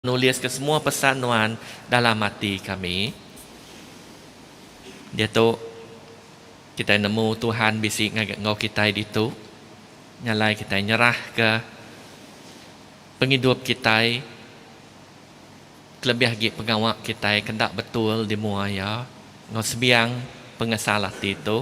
Nuliska semua pesan Nuan dalam ati kami. Diatu kitai nemu Tuhan bisi ngagai enggau kitai ditu. Nya alai kitai nyerahka pengidup kitai kelebih agi pengawa kitai ke enda betul di mua Iya enggau sebiang pengesal ati tu.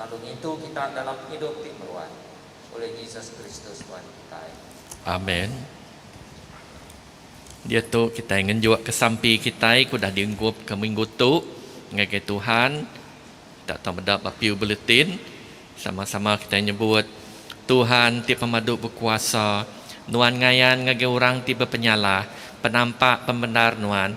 Lalu ngintu kita dalam pengidup ti meruan ulih Jesus Kristus Tuhan kitai. Amen. Diatu kitai ngenjukka sampi kitai ke udah dienggupka minggu tu ngagai Tuhan. Kita tau meda ba Pew Bulletin, sama-sama kitai nyebut, Tuhan ti pemadu bekuasa, Nuan ngayan ngagai orang ti bepenyalah, penampak pembendar Nuan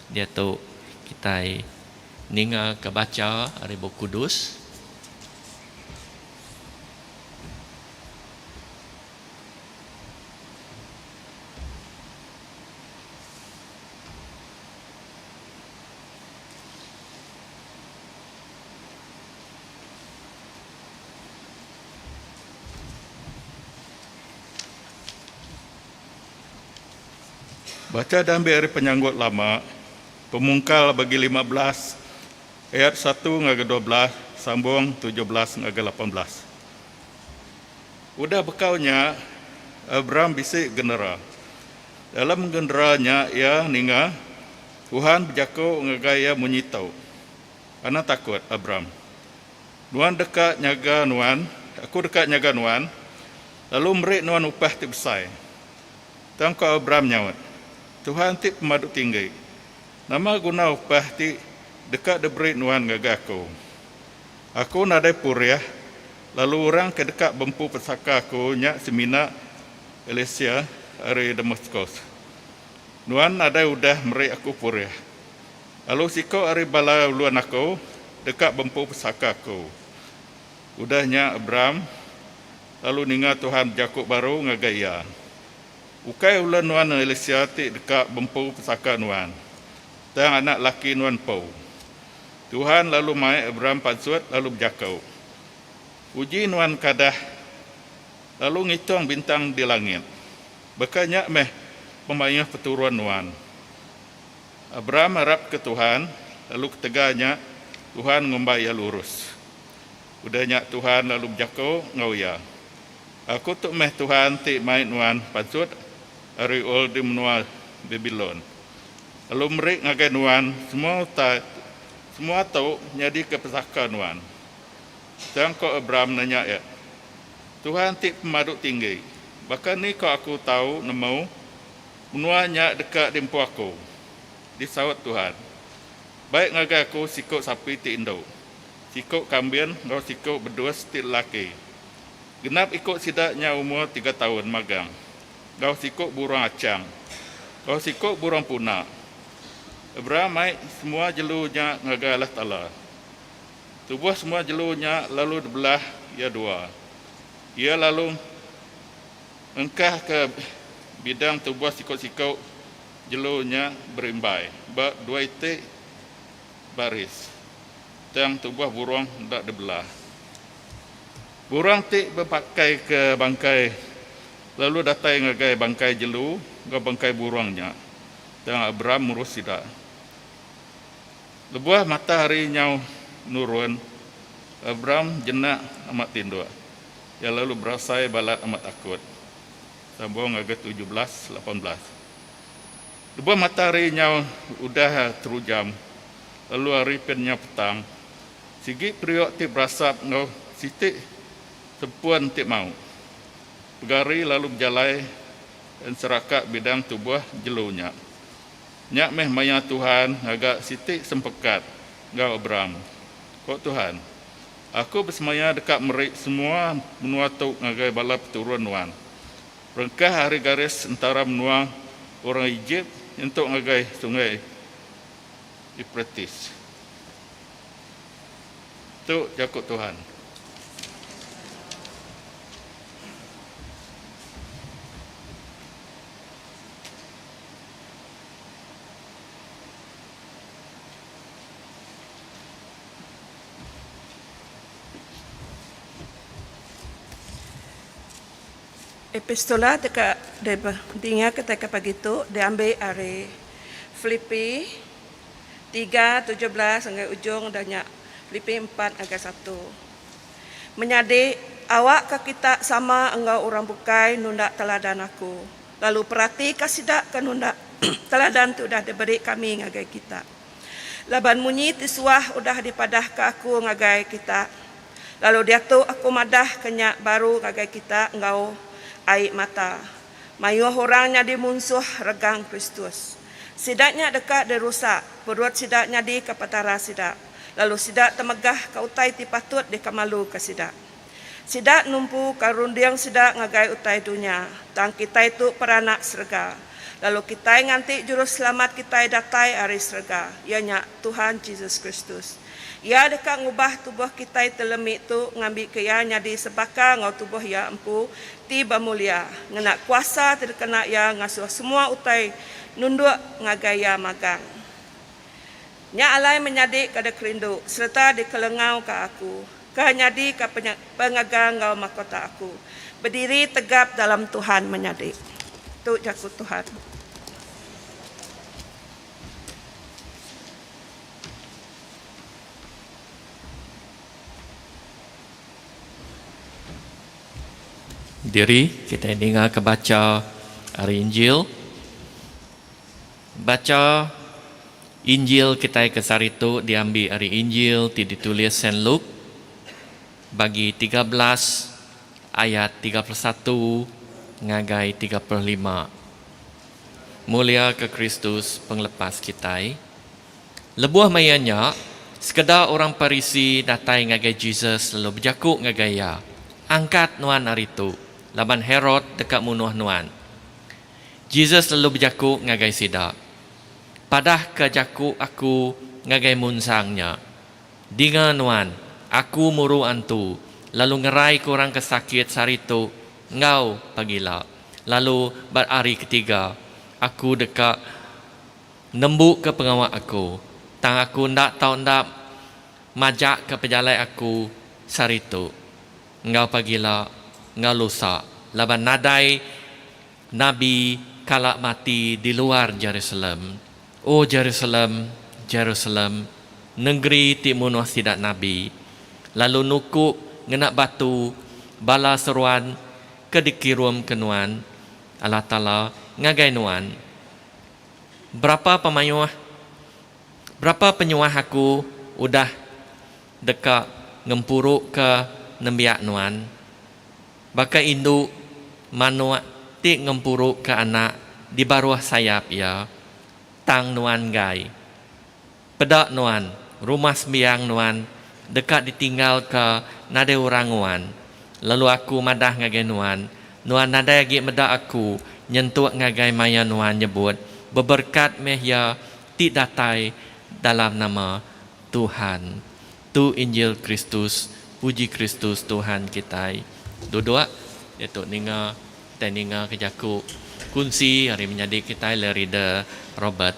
Diatu kitai ningaka bacha ari Bup Kudus. Bacha diambil ari Penyanggut Lama, Pemungkal bagi lima belas ayat satu ngagai dua belas sambung tujuh belas ngagai lapan belas. Udah bekau nya, Abram bisi genera. Dalam genera nya iya ninga Tuhan bejaku ngagai iya munyi tu, Anang takut, Abram. Nuan deka nyaga nuan, aku deka nyaga nuan, Lalu meri nuan upah ti besai. Tang ku Abram nyaut, Tuhan ti Pemadu Tinggi, nama guna upah ti deka diberi nuan ngagai aku? Aku nadai purih, lalu orang ke deka bempu pesaka aku nya semina Elisea ari Damaskus. Nuan nadai udah meri aku purih, lalu siku ari bala ulun aku deka bempu pesaka aku. Udah nya Abram. Lalu ninga Tuhan bejaku baru ngagai iya, Ukai ulun nuan Elisia ti deka bempu pesaka nuan, tang anak laki nuan empu. Tuhan lalu mai Abram pansut lalu bejaku, Uji nuan kadah lalu ngitung bintang di langit, baka nya meh pemaioh peturun nuan. Abram arapka Tuhan, lalu ketegal nya Tuhan ngumbai iya lurus. Udah nya Tuhan lalu bejako enggau iya, Aku tu meh Tuhan ti mai nuan pansut ari Ur di menua Babilon, lalu meri ngagai nuan semua utai tu. Semua tu nyadika pesaka nuan. Tang ko Abram nanya iya, Tuhan ti Pemadu Tinggi, baka ni ko aku tau nemu menua nya deka diempu aku? Disaut Tuhan, Baik ngagai aku siku sapi ti indu. siku kambin enggau siku bedus ti lelaki. Genap iku sida nya umur tiga taun magang enggau siku burung achang enggau siku burung puna. Abram mai semua jelu nya ngagai Allah Taala. Tubuh semua jelu nya lalu dibelah iya dua. Iya lalu ngengkahka bidang tubuh siku-siku jelu nya berimbai ba dua iti baris, tang tubuh burung enda dibela. Burung ti bepakaika bangkai lalu datai ngagai bangkai jelu enggau bangkai burung nya, tang Abram murus sida. Lebuh matahari nyau nurun, Abram jenak amat tinduk. Iya lalu berasai balat amat takut. Sambung ngagai tujuh belas lapan belas. Lebuh matahari nyau udah terujam, lalu hari ke nyau petang, sigi periuk ti berasap enggau siti tempun ti mau pegari lalu bejalai enseraka bidang tubuh jelu nya. Nya meh maya Tuhan ngaga siti sempekat enggau Abram. Ko Tuhan, Aku besemaya deka meri semua menua tu ngagai bala peturun nuan. Rengkah ari garis entara menua orang Ejip nyentuk ngagai Sungai Euprates. Tu jaku Tuhan. Epistola deka didinga ketegal pagi tu diambi ari Filipi tiga tujuh belas ngagai ujung da nya Filipi empat ngagai satu. Menyadi, awakka kita sama enggau orang bukai nunda teladan aku, lalu peratika sida ke nunda teladan ti udah diberi kami ngagai kita. Laban munyi ti suah udah dipadahka aku ngagai kita, Lalu diatu aku madah ke nya baru ngagai kita enggau ai mata. Mayuh orang nyadi munsuh regang Kristus. Sida nya deka dirusak, perut sida nyadika petara sida, lalu sida temegahka utai ti patut dikemaluka sida. Sida numpuka runding sida ngagai utai dunya, tang kitai tu peranak serega, lalu kitai nganti Juruselamat kitai datai ari serega, iya nya Tuhan Jesus Kristus. Iya deka ngubah tubuh kitai ti lemi tu ngambika iya nyadi sebaka enggau tubuh Iya empu ti bemulia, ngena kuasa ti dikena Iya ngasuh semua utai nunduk ngagai Iya magang. Nya alai menyadi kada kerindu sereta dikelengauka aku, ke nyadika pengaga enggau makota aku, bediri tegap dalam Tuhan menyadi. Tu jaku Tuhan. Diri kitai ningaka bacha ari Injil. Bacha Injil kitai ke sehari tu diambi ari Injil ti ditulis Saint Luke bagi tiga belas ayat tiga puluh satu ngagai tiga puluh lima. Muliaka Kristus Pengelepas kitai. Lebuh maya nya, sekeda orang Parisi datai ngagai Jesus lalu bejaku ngagai iya, Angkat nuan ari tu, laban Herod deka munuh nuan. Jesus lalu bejaku ngagai sida, Padahka jaku aku ngagai munsang nya, Dinga nuan, aku muru antu lalu ngeraika orang ke sakit sehari tu enggau pagila, lalu ba hari ketiga aku deka. Nembuka pengawa aku, tang aku enda tau enda majaka pejalai aku saritu enggau pagila enggau lusa laban nadai nabi kala mati di luar Jerusalem. O Jerusalem, Jerusalem, nengeri ti munuh sida nabi, lalu nuku ngena batu bala seruan ke dikirumka nuan, Allah Taala, ngagai nuan. Berapa pemayuh, berapa penyuah aku udah deka ngempuruka nembiak nuan, baka indu manuk ti ngempuruka anak di baruh sayap iya, tang nuan enggai. Peda nuan, rumah sembiang nuan deka ditinggalka nadai orang nguan. Lalu Aku madah ngagai nuan, nuan nadai agi meda Aku nyentuk ngagai maya nuan nyebut, Beberkat meh iya ti datai dalam nama Tuhan. Tu Injil Kristus, puji Kristus Tuhan kitai. Duduk, diatu ninga, kitai ninga ke jaku kunsi ari menyadi kitai le Reader Robert.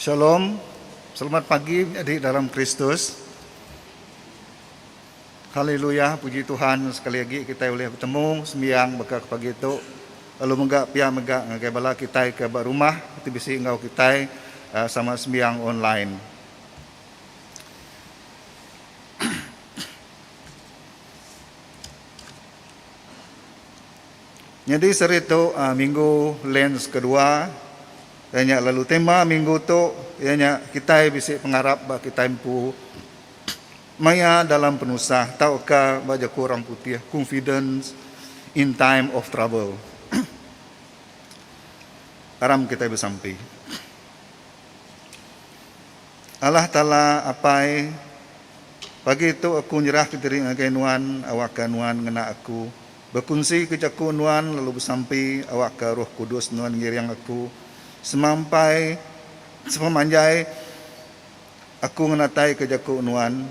Shalom, selamat pagi adik dalam Kristus. Haleluya, puji Tuhan sekali agi kitai ulih betemu sembiang baka ke pagi tu. Lalu mega pia mega ngagai bala kitai ke ba rumah ti bisi enggau kitai ah, sama sembiang online. Nyadi seri tu minggu lens kedua iya nya lalu tema minggu tu iya nya kitai bisi pengarap ba kitai empu maya dalam penusah tauka ba jaku orang putih confidence in time of trouble. Aram kitai besampi. Allah Taala Apai pagi tu aku nyerahka diri ngagai nuan awakka nuan ngena aku Bekunsika jaku nuan lalu besampi awakka Roh Kudus nuan ngiring aku semampai sepemanjai aku ngenataika jaku nuan.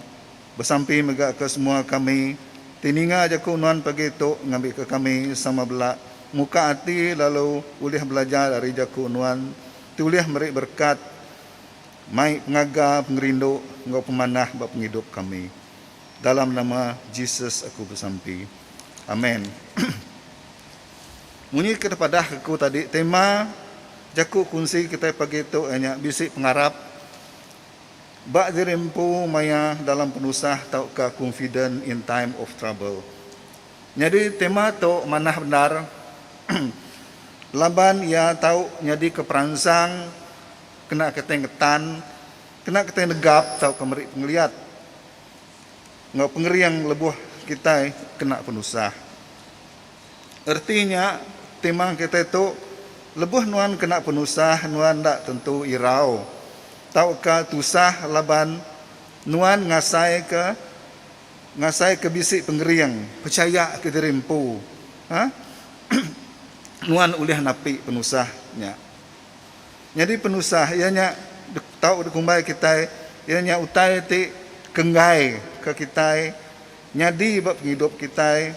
Besampi mega ke semua kami ti ninga jaku nuan pagi tu ngambika kami sama bela muka ati lalu ulih belajar ari jaku nuan ti ulih meri berekat mai pengaga, pengerindu enggau pemanah ba pengidup kami. Dalam nama Jesus aku besampi. Amen. Munyi ke tepadah aku tadi tema jaku kunsi kitai pagi tu iya nya bisi pengarap ba diri empu maya dalam penusah tauka confident in time of trouble. Nyadi tema tu manah bendar laban iya tau nyadika peransang kena kitai ngetan Kena kitai negap tauka meri pengeliat enggau pengering lebuh kitai kena penusah. Erti nya, timang kitai tu, lebuh nuan kena penusah nuan enda tentu irau tauka tusah laban nuan ngasaika ngasaika bisi pengering, pechayaka diri empu, nuan ulih napi penusah nya. Nyadi penusah iya nya tau dikumbai kitai iya nya utai ti ke enggai ke kitai nyadi ba pengidup kitai.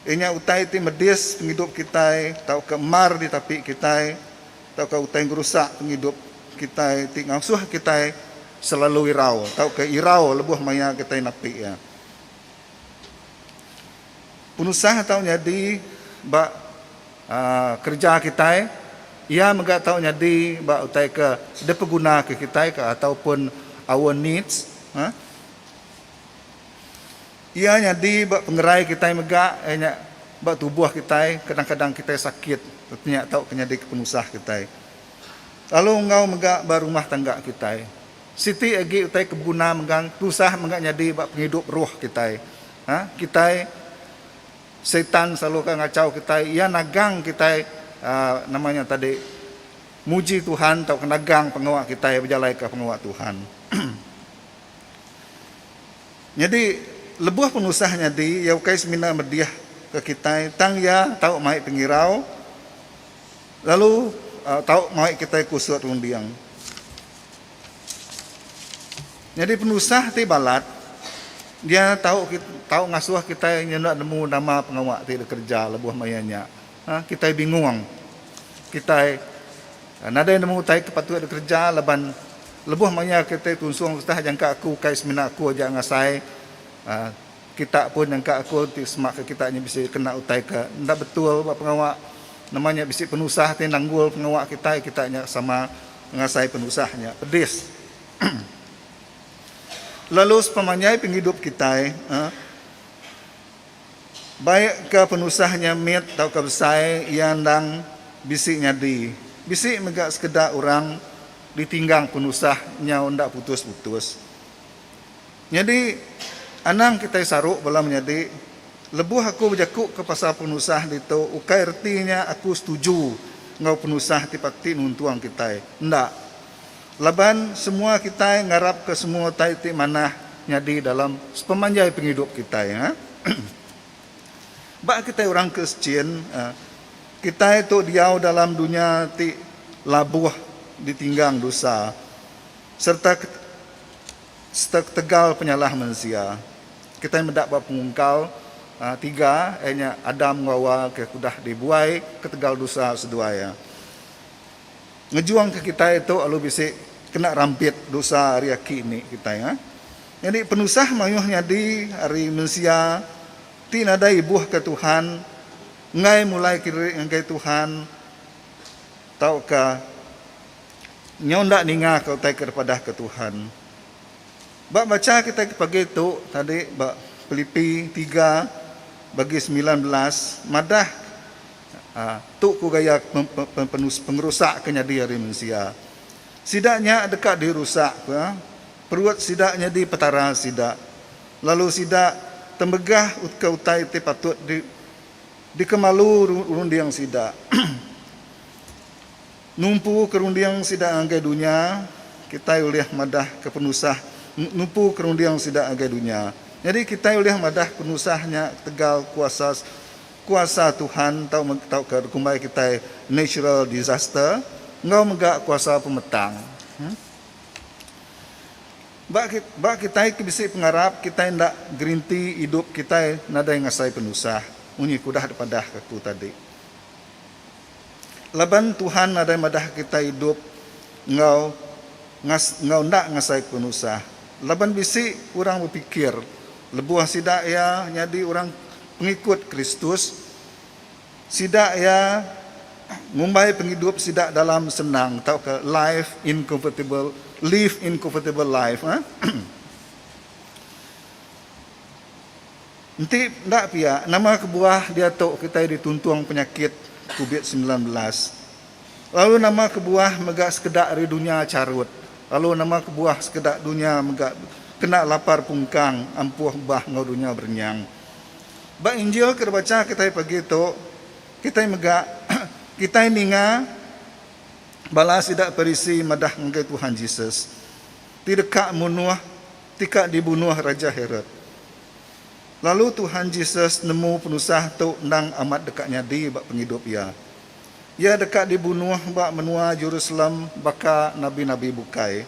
Iya nya utai ti medis pengidup kitai tauka mar ditapi kitai tauka utai ngerusak pengidup kitai ti ngasuh kitai selalu irau tauka irau lebuh maya kitai napi iya. Penusah tau nyadi ba kereja kitai, iya mega tau nyadi ba utai ke dipeguna ke kitai ke ataupun our needs ha. Iya nyadi ba pengerai kitai mega iya nya ba tubuh kitai kadang-kadang kitai sakit ti nya tau ke nyadi ke penusah kitai. Lalu enggau mega ba rumah tangga kitai. Siti agi utai ke beguna mega tusah mega nyadi ba pengidup roh kitai. Ha, kitai Satan selalu ka ngachau kitai, iya nagang kitai aa nama nya tadi muji Tuhan tauka nagang pengawa kitai bejalaika pengawa Tuhan. Nyadi lebuh penusah nyadi iya ukai semina medih ke kitai tang iya tau mai pengirau lalu tau mai kitai kusut runding. Nyadi penusah ti balat dia tau tau ngasuh kitai nyenda nemu nama pengawa ti dikereja lebuh maya nya. Nah, kitai bingung. Kitai nadai nemu utai ke patut dikereja laban lebuh maya kitai tunsung ketah jangka aku kai semina aku aja ngasai aaa kita pun jangka aku ti semak ke kita nya bisi kena utai ke enda betul ba pengawa nama nya bisi penusah ti nanggul pengawa kitai, kita nya sama Ngasai penusah nya pedis. Lalu sepemanjai pengidup kitai, baikka penusah nya mit tauka besai, iya endang bisi nyadi. Bisi mega sekeda orang ditinggang penusah nyau enda putus-putus. Nyadi, anang kitai saru bala menyadi. Lebuh aku bejakuka pasal penusah ditu ukai reti nya aku setuju enggau penusah ti pati nuntung kitai. Enda. Laban semua kitai ngarapka semua utai ti manah nyadi dalam sepemanjai pengidup kitai. Ba kitai orang Kristian, kitai tu diau dalam dunya ti labuh ditinggang dosa. sereta sereta ketegal penyalah mensia. Kitai meda ba pengungkal tiga iya nya Adam enggau Hawa ke udah dibuai ketegal dosa seduai iya. Ngejungka kitai tu lalu bisi kena rampit dosa ari aki indi kitai. Nyadi penusah mayuh nyadi ari mensia ti nadai ibuhka Tuhan enggai mulai kirii ngagai Tuhan. Tauka nyau enda ningaka utai ke dipadahka Tuhan. Ba bacha kitai ke pagi tu tadi ba Pilipi tiga bagi semilan belas madah tu ku gaya pengerusak ke nyadi ari mensia. Sida nya deka dirusak ka perut sida nyadi petara sida lalu sida tembegah ka utai ti patut Dikemalu runding sida. Numpu ke runding sida ngagai dunya, kitai ulih madah ke penusah numpu ke runding sida ngagai dunya. Nyadi kitai ulih madah penusah nya ketegal kuasa kuasa Tuhan tau tauka dikumbai kitai natural disaster enggau mega kuasa pemetang. Ba ba kitai ke bisi pengarap kitai enda gerinti idup kitai nadai ngasai penusah munyi ke udah dipadahka aku tadi. Laban Tuhan nadai madahka kitai idup enggau ngas enggau enda ngasaika penusah. Laban bisi orang bepikir lebuh sida iya nyadi orang pengikut Kristus, Sida iya ngumbai pengidup sida dalam senang tauka life in comfortable live in comfortable life eh. Enti enda pia, nama kebuah diatu kitai dituntung penyakit Covid semilan belas? Lalu nama kebuah mega sekeda ari dunya charut? Lalu nama kebuah sekeda dunya mega kena lapar pungkang ampuh bah enggau dunya berenyang? Ba Injil ke dibachaka kitai pagi tu, kitai mega kitai ninga bala sida Parisi madah ngagai Tuhan Jesus, Ti deka munuh ti ka dibunuh Raja Herod. Lalu Tuhan Jesus nemu penusah tu endang amat deka nyadi ba pengidup iya. Iya deka dibunuh ba menua Jerusalem baka nabi-nabi bukai.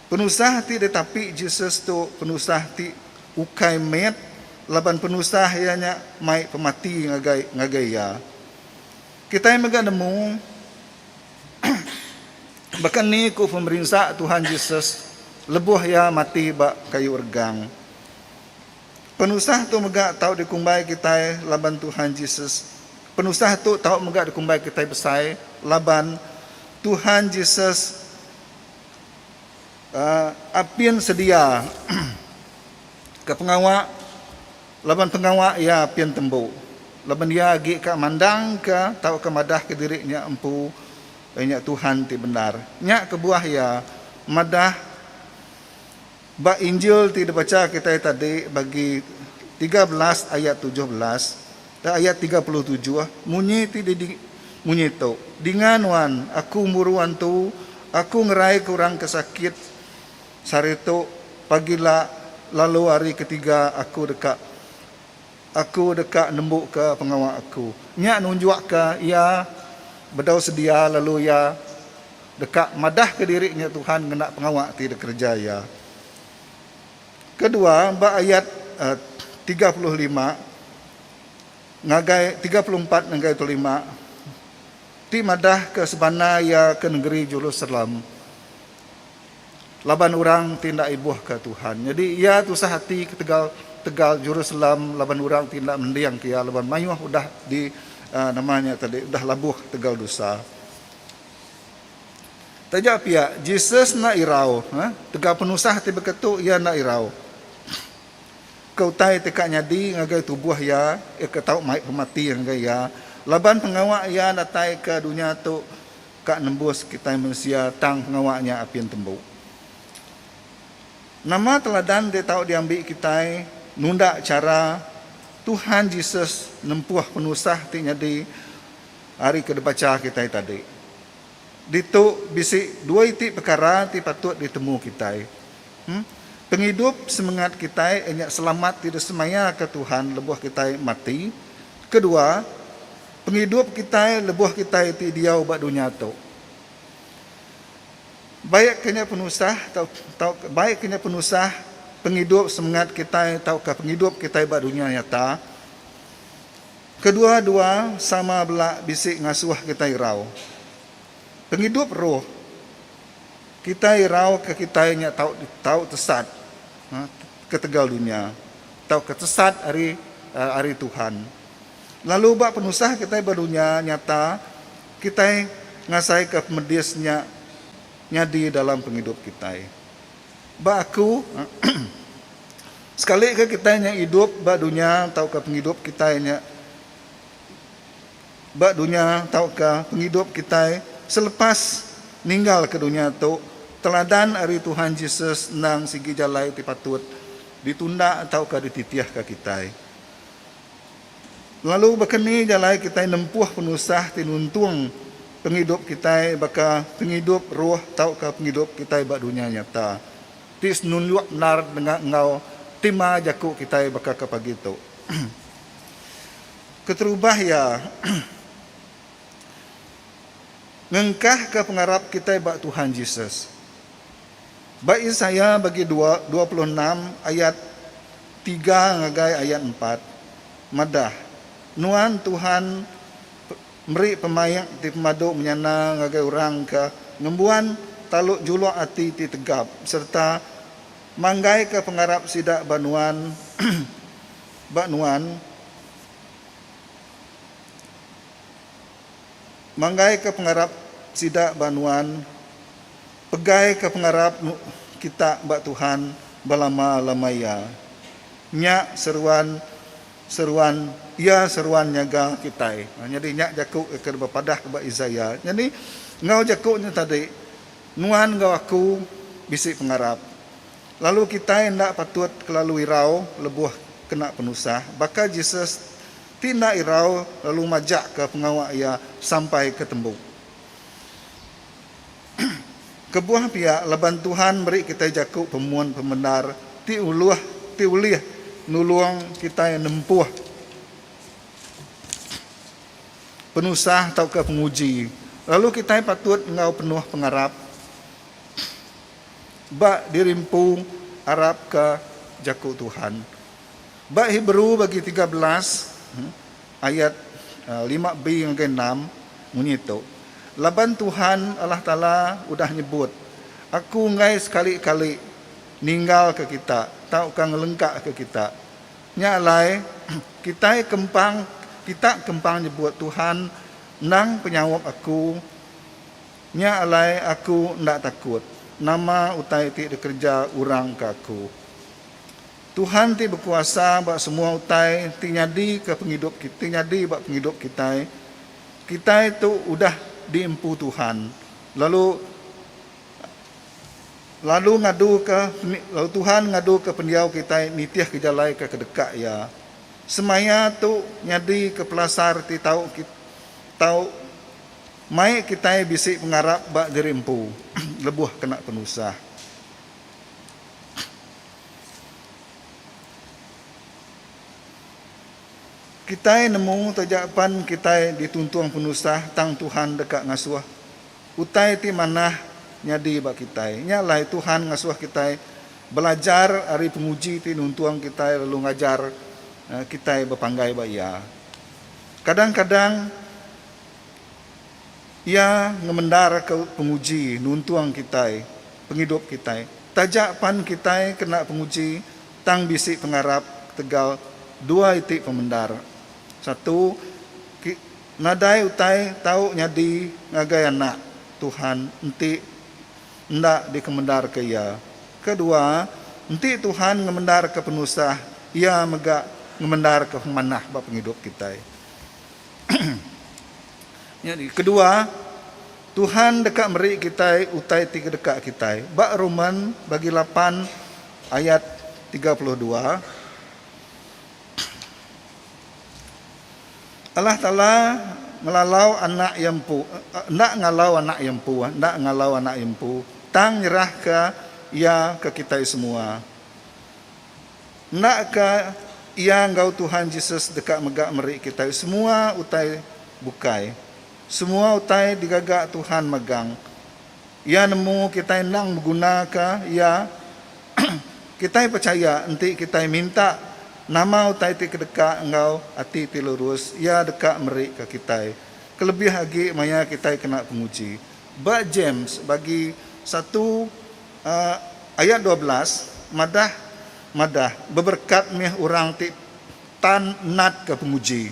Penusah ti ditapi Jesus tu penusah ti ukai met laban penusah iya nya mai pemati ngagai ngagai iya. Kitai mega nemu baka ni ku pemerinsa Tuhan Jesus lebuh iya mati ba kayu regang. Penusah tu mega tau dikumbai kitai laban Tuhan Jesus penusah tu tau mega dikumbai kitai besai laban Tuhan Jesus Apin sedia ka pengawa laban pengawa iya apin tembu laban iya agi ka mandangka tauka madahka diri nya empu nya Tuhan ti bendar. Nya kebuah iya madah. Ba Injil ti dibacha kitai tadi bagi tiga belas ayat tujuh belas te ayat tiga puluh tujuh munyi ti di munyi tu, Dinga nuan, aku muru antu, aku ngeraika orang ke sakit sehari tu, pagi la lalu hari ketiga aku deka. Aku deka nembuka pengawa aku. Nya nunjukka iya bedau sedia lalu iya deka madahka diri nya Tuhan ngena pengawa ti dikereja iya. Kedua, ba ayat tiga puluh lima ngagai tiga puluh empat ngagai tiga puluh lima ti madahka sebana iya ke nengeri Jerusalem. Laban orang ti enda ibuhka Tuhan. Nyadi iya tusah ati ketegal tegal Jerusalem laban orang ti enda mendingka iya laban mayuh udah di aa nama nya tadi udah labuh tegal dusa. Taja pia, Jesus enda irau aa tegal penusah ti baka tu iya enda irau. Ke utai ti ka nyadi ngagai tubuh iya, iya ka tau mai pemati ngagai iya laban pengawa iya datai ke dunya tu Ka nembus kitai mensia tang pengawa nya apin tembu. Nama teladan ti tau diambi kitai nunda chara Tuhan Jesus nempuh penusah ti nyadi ari ke dibacha kitai tadi? Ditu bisi dua iti pekara ti patut ditemu kitai. Em. Pengidup semengat kitai nya selamat ti disemayaka Tuhan lebuh kitai mati. Kedua. Pengidup kitai lebuh kitai ti diau ba dunya tu. Baik ke nya penusah tau baik ke nya penusah pengidup semengat kitai tauka pengidup kitai ba dunya nyata, kedua-dua sama bela bisi ngasuh kitai irau. Pengidup roh kitai irau ke kitai nya tau tau tesat ketegal dunya tauka tesat ari ari Tuhan. Lalu ba penusah kitai ba dunya nyata, kitai ngasaika pemedis nya nyadi dalam pengidup kitai. Ba aku, sekalika kitai nya idup ba dunya tauka pengidup kitai nya ba dunya tauka pengidup kitai selepas ninggalka dunya tu, teladan ari Tuhan Jesus endang sigi jalai ti patut ditunda tauka dititihka kitai. Lalu baka ni jalai kitai nempuh penusah ti nuntung pengidup kitai baka pengidup roh tauka pengidup kitai ba dunya nyata ti senunjuk endar dengah enggau tema jaku kitai baka ke pagi tu. Keterubah iya, ngengkahka pengarap kitai ba Tuhan Jesus. Ba Isaiah bagi dua dua puluh enam ayat tiga ngagai ayat empat, madah, Nuan Tuhan meri pemaik ti pemadu menyana ngagai orang ke ngembuan taluk juluk ati ti tegap sereta manggaika pengarap sida ba Nuan ba Nuan. manggaika pengarap sida ba nuan, pegaika pengarap kita ba Tuhan belama-lama iya. Nya seruan seruan iya seruan nyaga kitai. Nyadi nya jaku ke dibepadah ba Isaiah. Nyadi enggau jaku nya tadi nuan enggau aku bisi pengarap. Lalu kitai enda patut kelalu irau lebuh kena penusah. Baka Jesus. Ti enda irau lalu majakka pengawa iya sampai ke tembu. Kebuah pia laban Tuhan meri kitai jaku pemun pemendar ti uluh ti ulih nulung kitai nempuh penusah tauka penguji lalu kitai patut enggau penuh pengarap ba diri empu arapka jaku Tuhan. Ba Hebrew bagi tiga belas ayat lima b ngagai enam munyi tu, Laban Tuhan Allah Taala udah nyebut, Aku enggai sekali-kali ninggalka kita tauka ngelengkaka kita. Nya alai, kitai kempang kita kempang nyebut Tuhan endang penyaup aku. Nya alai aku enda takut nama utai ti dikereja orang ke aku. Tuhan ti bekuasa ba semua utai ti nyadi ke pengidup ti nyadi ba pengidup kitai. Kitai tu udah di empu Tuhan lalu lalu ngadu ke lalu Tuhan ngadu ke pendiau kitai nitih ke jalai ke kedeka Iya. Semaya tu nyadi ke pelasar ti tau tau mai kitai bisi pengarap ba diri empu lebuh kena penusah. Kitai nemu taja pan kitai dituntung penusah tang Tuhan deka ngasuh. Utai ti manah nyadi ba kitai nya alai Tuhan ngasuh kitai belajar ari penguji ti nuntung kitai lalu ngajar kitai bepanggai ba Iya. Kadang-kadang. Iya ngemendarka penguji nuntung kitai pengidup kitai. Taja pan kitai kena penguji, tang bisi pengarap ketegal dua iti pemendar. Satu, ki, nadai utai tau nyadi ngagai anak Tuhan enti enda dikemendarka iya. Kedua, enti Tuhan ngemendarka penusah, Iya mega ngemendarka pemanah ba pengidup kitai. Nyadi, kedua, Tuhan deka meri kitai utai ti kedeka kitai. Ba Roman bagi lapan ayat tiga puluh dua, Allah Taala ngelalau anak iya empu, enda ngalau anak iya empu, enda ngalau anak iya empu, tang nyerahka iya ke kitai semua. Enda ka iya enggau Tuhan Jesus deka mega meri kitai semua utai bukai. Semua utai digaga Tuhan megang. Iya nemu kitai endang begunaka Iya. Kitai pechaya enti kitai minta nama utai ti kedeka enggau ati ti lurus, Iya deka meri ka kitai, kelebih agi maya kitai kena penguji. Ba James bagi satu. Ayat dua belas madah madah beberkat mih orang ti tan natka penguji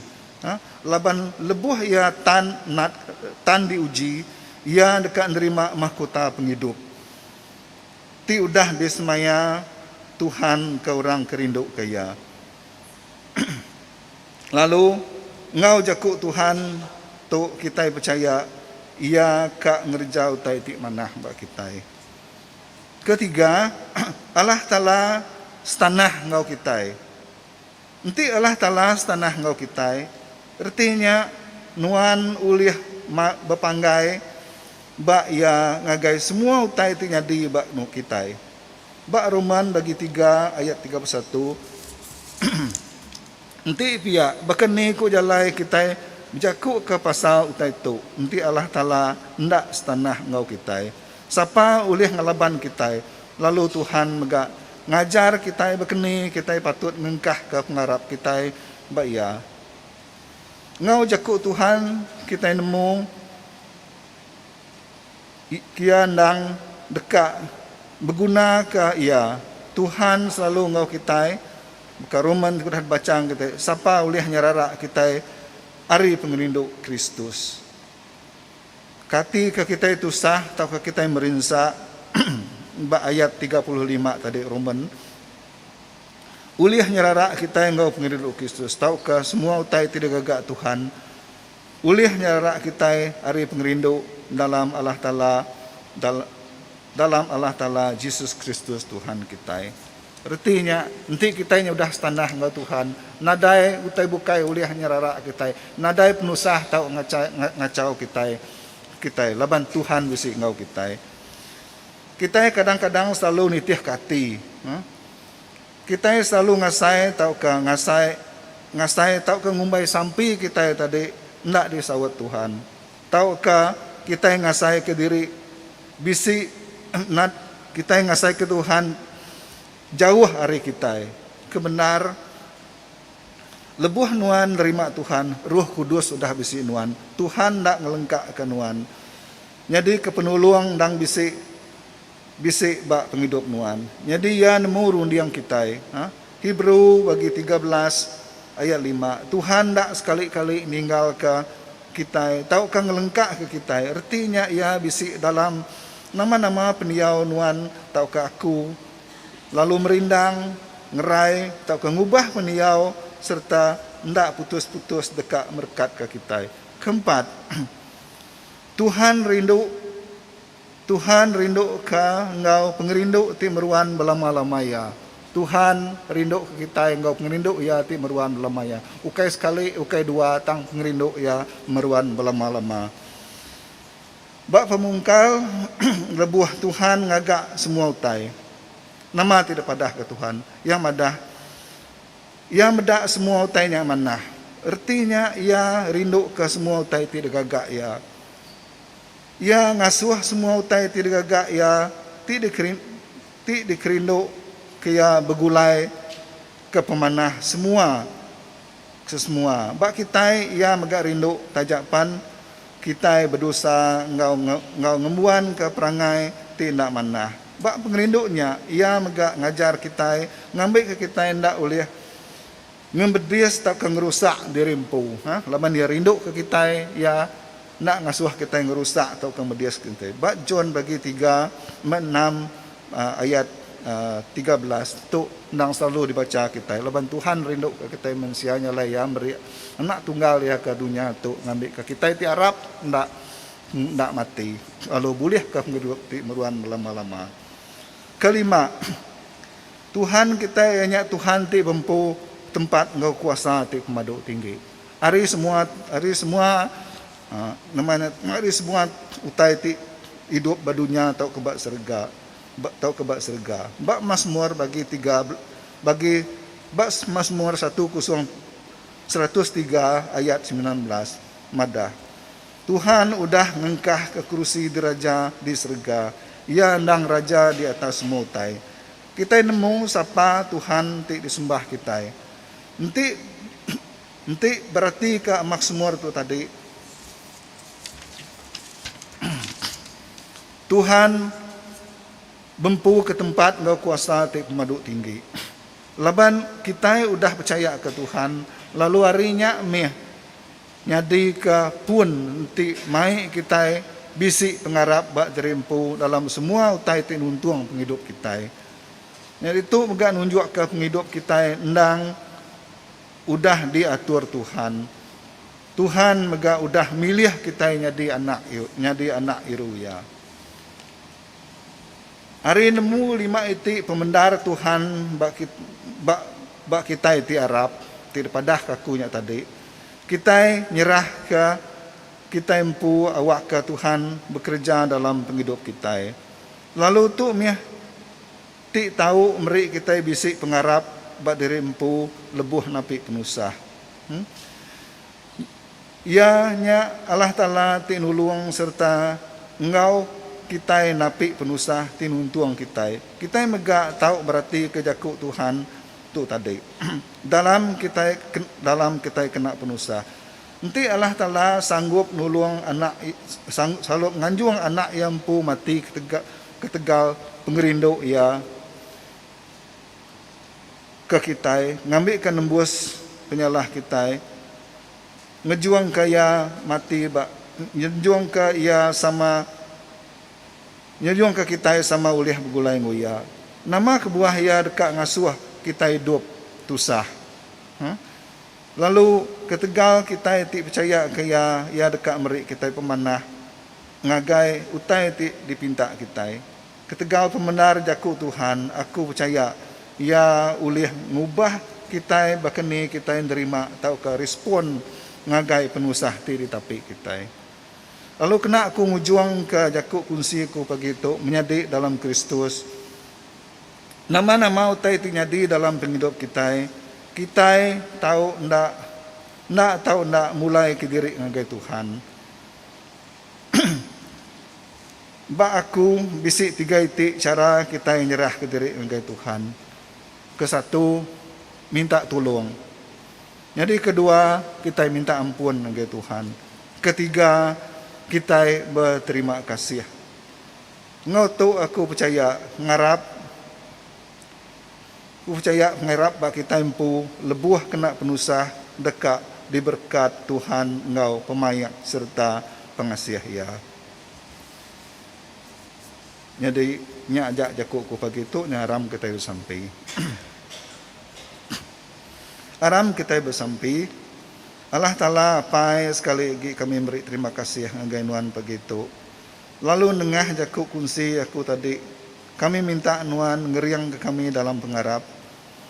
laban lebuh iya tan nat tan diuji iya deka nerima mahkota pengidup ti udah disemaya Tuhan ke orang ke rinduka iya. Lalu, enggau jaku Tuhan tu kitai pechaya Iya ka ngereja utai ti manah ba kitai. Ketiga, Allah Taala setanah enggau kitai. Enti Allah Taala setanah enggau kitai, reti nya nuan ulih bepanggai ba Iya ngagai semua utai ti nyadi ba kitai. Ba Roman bagi tiga ayat tiga puluh satu, Enti pia, baka ni ku jalai kitai bejakuka pasal utai tu, Enti Allah Taala enda setanah enggau kitai, sapa ulih ngelaban kitai? Lalu Tuhan mega ngajar kitai baka ni kitai patut ngengkahka pengarap kitai ba Iya. Enggau jaku Tuhan, kitai nemu. Pia endang deka begunaka iya. Tuhan selalu enggau kitai. Baka Roman ti ku udah dibacha ngagai kitai, sapa ulih nyerara kitai ari pengerindu Kristus? Katika kitai tusah tauka kitai merinsa, ba ayat tiga puluh lima tadi Roman, ulih nyerara kitai enggau pengerindu Kristus tauka semua utai ti digaga Tuhan Ulih nyerara kitai ari pengerindu dalam Allah Taala dal dalam Allah Taala Jesus Kristus Tuhan kitai. Reti nya, enti kitai nyudah setanah enggau Tuhan, nadai utai bukai ulih nyerara kitai, nadai penusah tau ngacha ngachau kitai kitai laban Tuhan bisi enggau kitai. Kitai kadang-kadang selalu nitihka ati. Huh. Kitai selalu ngasai tauka ngasai ngasai tauka ngumbai sampi kitai tadi enda disaut Tuhan tauka kitai ngasaika diri bisi nad kitai ngasaika Tuhan jauh ari kitai. Ke bendar lebuh nuan nerima Tuhan, Roh Kudus udah bisi nuan. Tuhan enda ngelengkaka nuan nyadika penulung endang bisi. Bisi ba pengidup nuan. Nyadi iya nemu runding kitai. Hebrew bagi tiga belas ayat lima, Tuhan enda sekali-kali ninggalka kitai tauka ngelengkaka kitai, reti nya iya bisi dalam nama-nama pendiau nuan tauka aku, lalu merindang, ngerai tauka ngubah pendiau sereta enda putus-putus deka merekatka kitai. Keempat, Tuhan rindu. Tuhan rinduka enggau pengerindu ti meruan belama-lama iya. Tuhan rinduka kitai enggau pengerindu Iya ti meruan belama iya. Ukai sekali, ukai dua tang pengerindu Iya meruan belama-lama. Ba pemungkal, lebuh Tuhan ngaga semua utai, nama ti dipadahka Tuhan? Iya madah, Iya meda semua utai nya manah. Reti nya Iya rinduka semua utai ti digaga Iya. Iya ngasuh semua utai ti digaga iya ti ti dikerindu ke iya begulai ke pemanah semua sesemua ba kitai iya mega rindu taja pan kitai bedosa enggau enggau ngembuan ke perangai ti enda manah ba pengerindu nya iya mega ngajar kitai ngambi ke kitai enda ulih Ngemedis tauka ngerusak diri empu. Laban iya rinduka kitai, iya enda ngasuh kitai ngerusak tauka mediska enti. Ba John bagi tiga meh enam ayat tiga belas tu endang selalu dibacha kitai. Laban Tuhan rinduka kitai mensia nya alai iya meri Anak Tunggal iya ke dunya tu ngambika kitai ti arap enda enda mati lalu bulihka pengidup ti meruan belama-lama. Kelima. Tuhan kitai iya nya Tuhan ti bempu tempat enggau kuasa ti pemadu tinggi. Ari semua ari semua nama nya ari semua utai ti idup ba dunya tauka ba serega tauka ba serega. Ba Masmur bagi tiga bagi ba Masmur satu kosong seratus tiga ayat semilan belas madah. Tuhan udah ngengkahka kerusi diraja di serega. Iya endang raja di atas semua utai. Kitai nemu sapa Tuhan ti disembah kitai. Enti enti beratika Maksmur tu tadi, Tuhan bempuka tempat enggau kuasa ti pemadu tinggi. Laban kitai udah pechayaka Tuhan, lalu ari nya mih, Nyadika pun enti mai kitai bisi pengarap ba jari empu dalam semua utai ti nuntung pengidup kitai. Nya ditu mega nunjukka pengidup kitai endang udah diatur Tuhan. Tuhan mega udah milih kitai nyadi anak nyadi anak Yeruia. Ari nemu lima iti pemendar Tuhan ba ba ba kitai ti arap ti dipadahka aku nya tadi, kitai nyerahka kitai empu awakka Tuhan bekereja dalam pengidup kitai. Lalu tu mih ti tau meri kitai bisi pengarap ba diri empu lebuh napi penusah. Em. Iya nya Allah Taala ti nulung sereta enggau kitai napi penusah ti nuntung kitai. Kitai mega tau beratika jaku Tuhan tu tadi dalam kitai dalam kitai kena penusah. Enti Allah Taala sanggup nulung anak sanggup nganjung anak Iya empu mati ketegal pengerindu Iya, ke kitai ngambika nembus penyalah kitai, ngejungka iya mati ba nyejungka iya sama nyejungka kitai sama ulih begulai enggau iya. Nama kebuah iya deka ngasuh kitai idup tusah? Huh? Lalu, ketegal kitai ti pechayaka iya, iya deka meri kitai pemanah ngagai utai ti dipinta kitai. Ketegal pemendar Jaku Tuhan, aku pechaya Iya ulih ngubah kitai baka ni kitai nerima tauka respon ngagai penusah ti ditapi kitai. Lalu kena aku ngujungka jaku kunsi aku pagi tu menyadi dalam Kristus. Nama-nama utai ti nyadi dalam pengidup kitai, kitai tau enda enda tau enda mulaika diri ngagai Tuhan. Ba aku, bisi tiga iti chara kitai nyerahka diri ngagai Tuhan. Ke satu, minta tulung. Nyadi ke dua, kitai minta ampun ngagai Tuhan. Ke tiga, kitai beterima kasih. Enggau tu aku pechaya, ngarap, Ku pechaya pengarap ba kitai empu lebuh kena penusah deka diberkat Tuhan enggau pemaik sereta pengasih Iya. Nyadi nya aja jaku ku pagi tu aram kitai besampi. Aram kitai besampi, Allah Taala apai sekali agi kami meri terima kasih ngagai nuan pagi tu lalu nengah jaku kunsi aku tadi. Kami minta Nuan ngeringka kami dalam pengarap,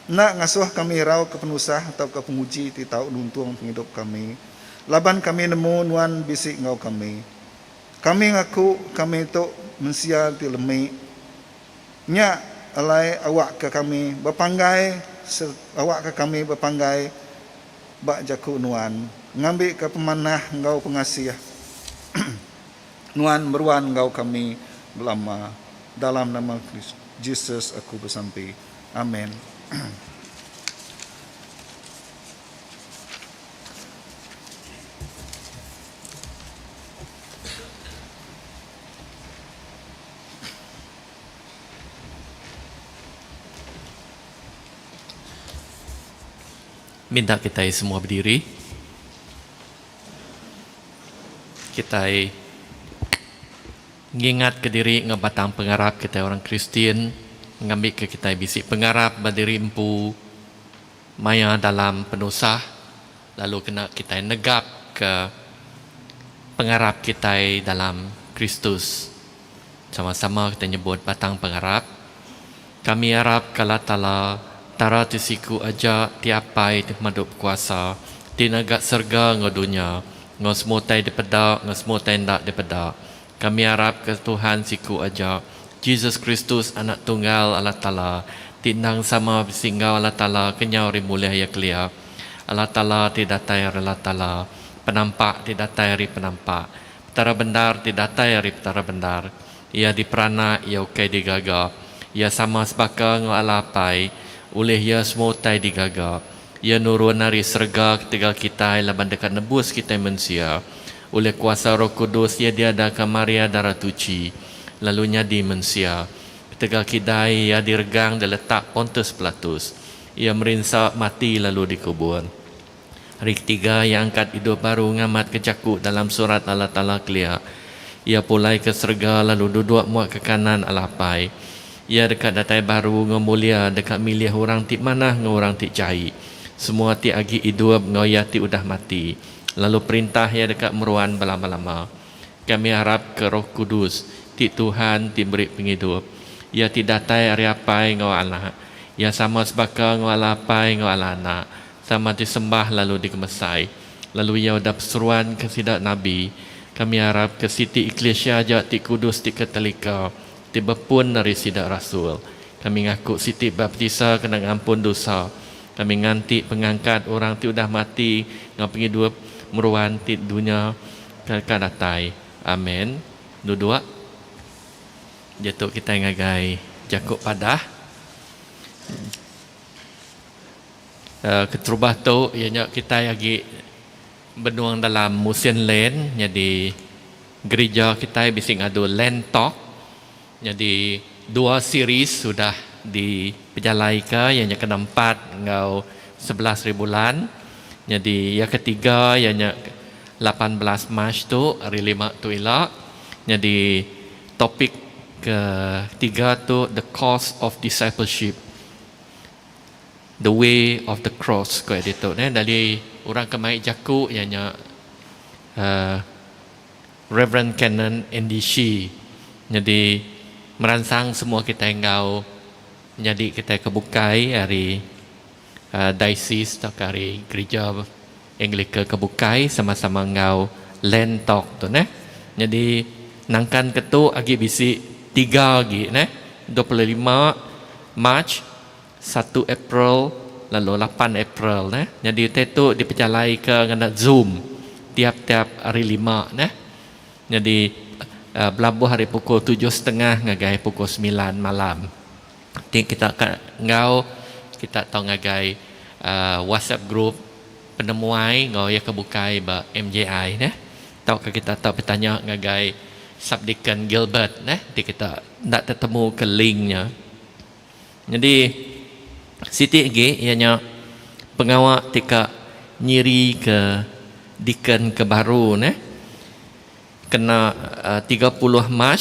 enda ngasuh kami irauka penusah tauka penguji ti tau nuntung pengidup kami, laban kami nemu Nuan bisi enggau kami. Kami ngaku kami tu mensia ti lemi. Nya alai awakka kami bepanggai sereta awakka kami bepanggai ba jaku Nuan, ngambika pemanah enggau pengasih. Nuan meruan enggau kami belama. Dalam nama Jesus aku besampi. Amen. Minta kitai semua bediri. Kitai ngingatka diri enggau batang pengarap kitai orang Kristian ngambika kitai bisi pengarap ba diri empu maya dalam penusah lalu kena kitai negapka pengarap kitai dalam Kristus. Sama-sama kita nyebut batang pengarap. Kami arap ke Allah Taala, Tara ti siku aja, ti apai, ti pemadu bekuasa, ti naga serga enggau dunya, enggau semua utai dipeda enggau semua utai enda dipeda. Kami arap ke Tuhan siku aja, Jesus Kristus Anak Tunggal Allah Taala, ti endang sama bisi enggau Allah Taala kenyau ari mulih iya kelia, Allah Taala ti datai ari Allah Taala, penampak ti datai ari penampak, Petara bendar ti datai ari Petara bendar. Iya diperanak, iya ukai digaga. Iya sama sebaka enggau Allah Apai. Ulih iya semua utai digaga. Iya nurun ari serega ketegal kitai laban deka nebus kitai mensia. Ulih kuasa Roh Kudus iya diadaka Maria Dara Tuchi lalu nyadi mensia. Ketegal kidai iya diregang di letak Pontus Pilatus. Iya merinsa, mati lalu dikubur. Hari ketiga iya angkat idup baru ngamatka jaku dalam Surat Allah Taala kelia. Iya pulai ke serega lalu duduk mua ke kanan Allah Apai. Iya deka datai baru enggau mulia deka milih orang ti manah enggau orang ti jai, semua ti agi idup enggau iya ti udah mati, lalu perintah iya deka meruan belama-lama. Kami arapka Roh Kudus, ti Tuhan ti meri pengidup. Iya ti datai ari Apai enggau Anak. Iya sama sebaka enggau Allah Apai enggau Allah Anak. Sama ti sembah lalu digemesai, lalu iya udah peseruanka sida nabi. Kami arapka siti eklisia aja ti kudus ti ke telika, ti bepun ari sida rasul. Kami ngaku siti baptisa kena ngampun dusa. Kami nganti pengangkat orang ti udah mati enggau pengidup meruan ti dunya ke ka datai. Amen. Duduk. Diatu kitai ngagai jaku padah. Keterubah tu iya nya kitai agi benung dalam musin land nyadi gerija kitai bisi ngadu land talk nyadi dua series udah dipejalai ka iya nya kena empat enggau sebelas hari bulan nyadi iya ke tiga iya nya lapan belas march tu hari lima tu ila nyadi topik ke tiga tu the cost of discipleship. The way of the cross ko editor neh dari orang ke mai jaku iya nya uhh Reverend Canon Andy Shee nyadi meransang semua kitai enggau nyadi kitai ke bukai ari diocese tauka ari gerija. Anglica ke bukai sama-sama enggau Land Talk tu neh. Nyadi nangkan ke tu agi bisi tiga agi neh, dua puluh lima Mac, satu April lalu lapan April neh. Nyadi utai tu dipejalaika ngena Zoom tiap-tiap Hari Lima neh. Nyadi belabuh ari pukul tujuh setengah ngagai pukul semilan malam. Ti kita ka enggau kita tau ngagai WhatsApp group penemuai enggau iya ke bukai ba MJI neh tauka kita tau betanya ngagai Subdeacon Gilbert neh ti kita enda tetemu ke link nya. Nyadi siti agi iya nya pengawa ti ka nyiri ke deacon ke baru neh kena tiga puluh Mac.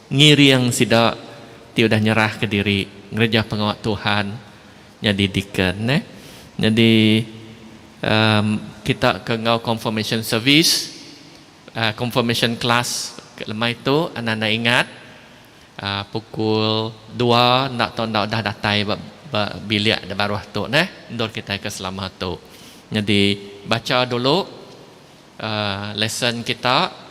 Ngiring sida ti udah nyerahka diri ngereja pengawa Tuhan nyadi deacon neh. Nyadi uhh kita ke enggau confirmation service uhh confirmation class ke lemai tu enda enda ingat uhh pukul dua enda tau enda udah datai ba ba bilik da baruh tu neh endur kitai ke selama tu. Nyadi bacha dulu uhh lesson kita.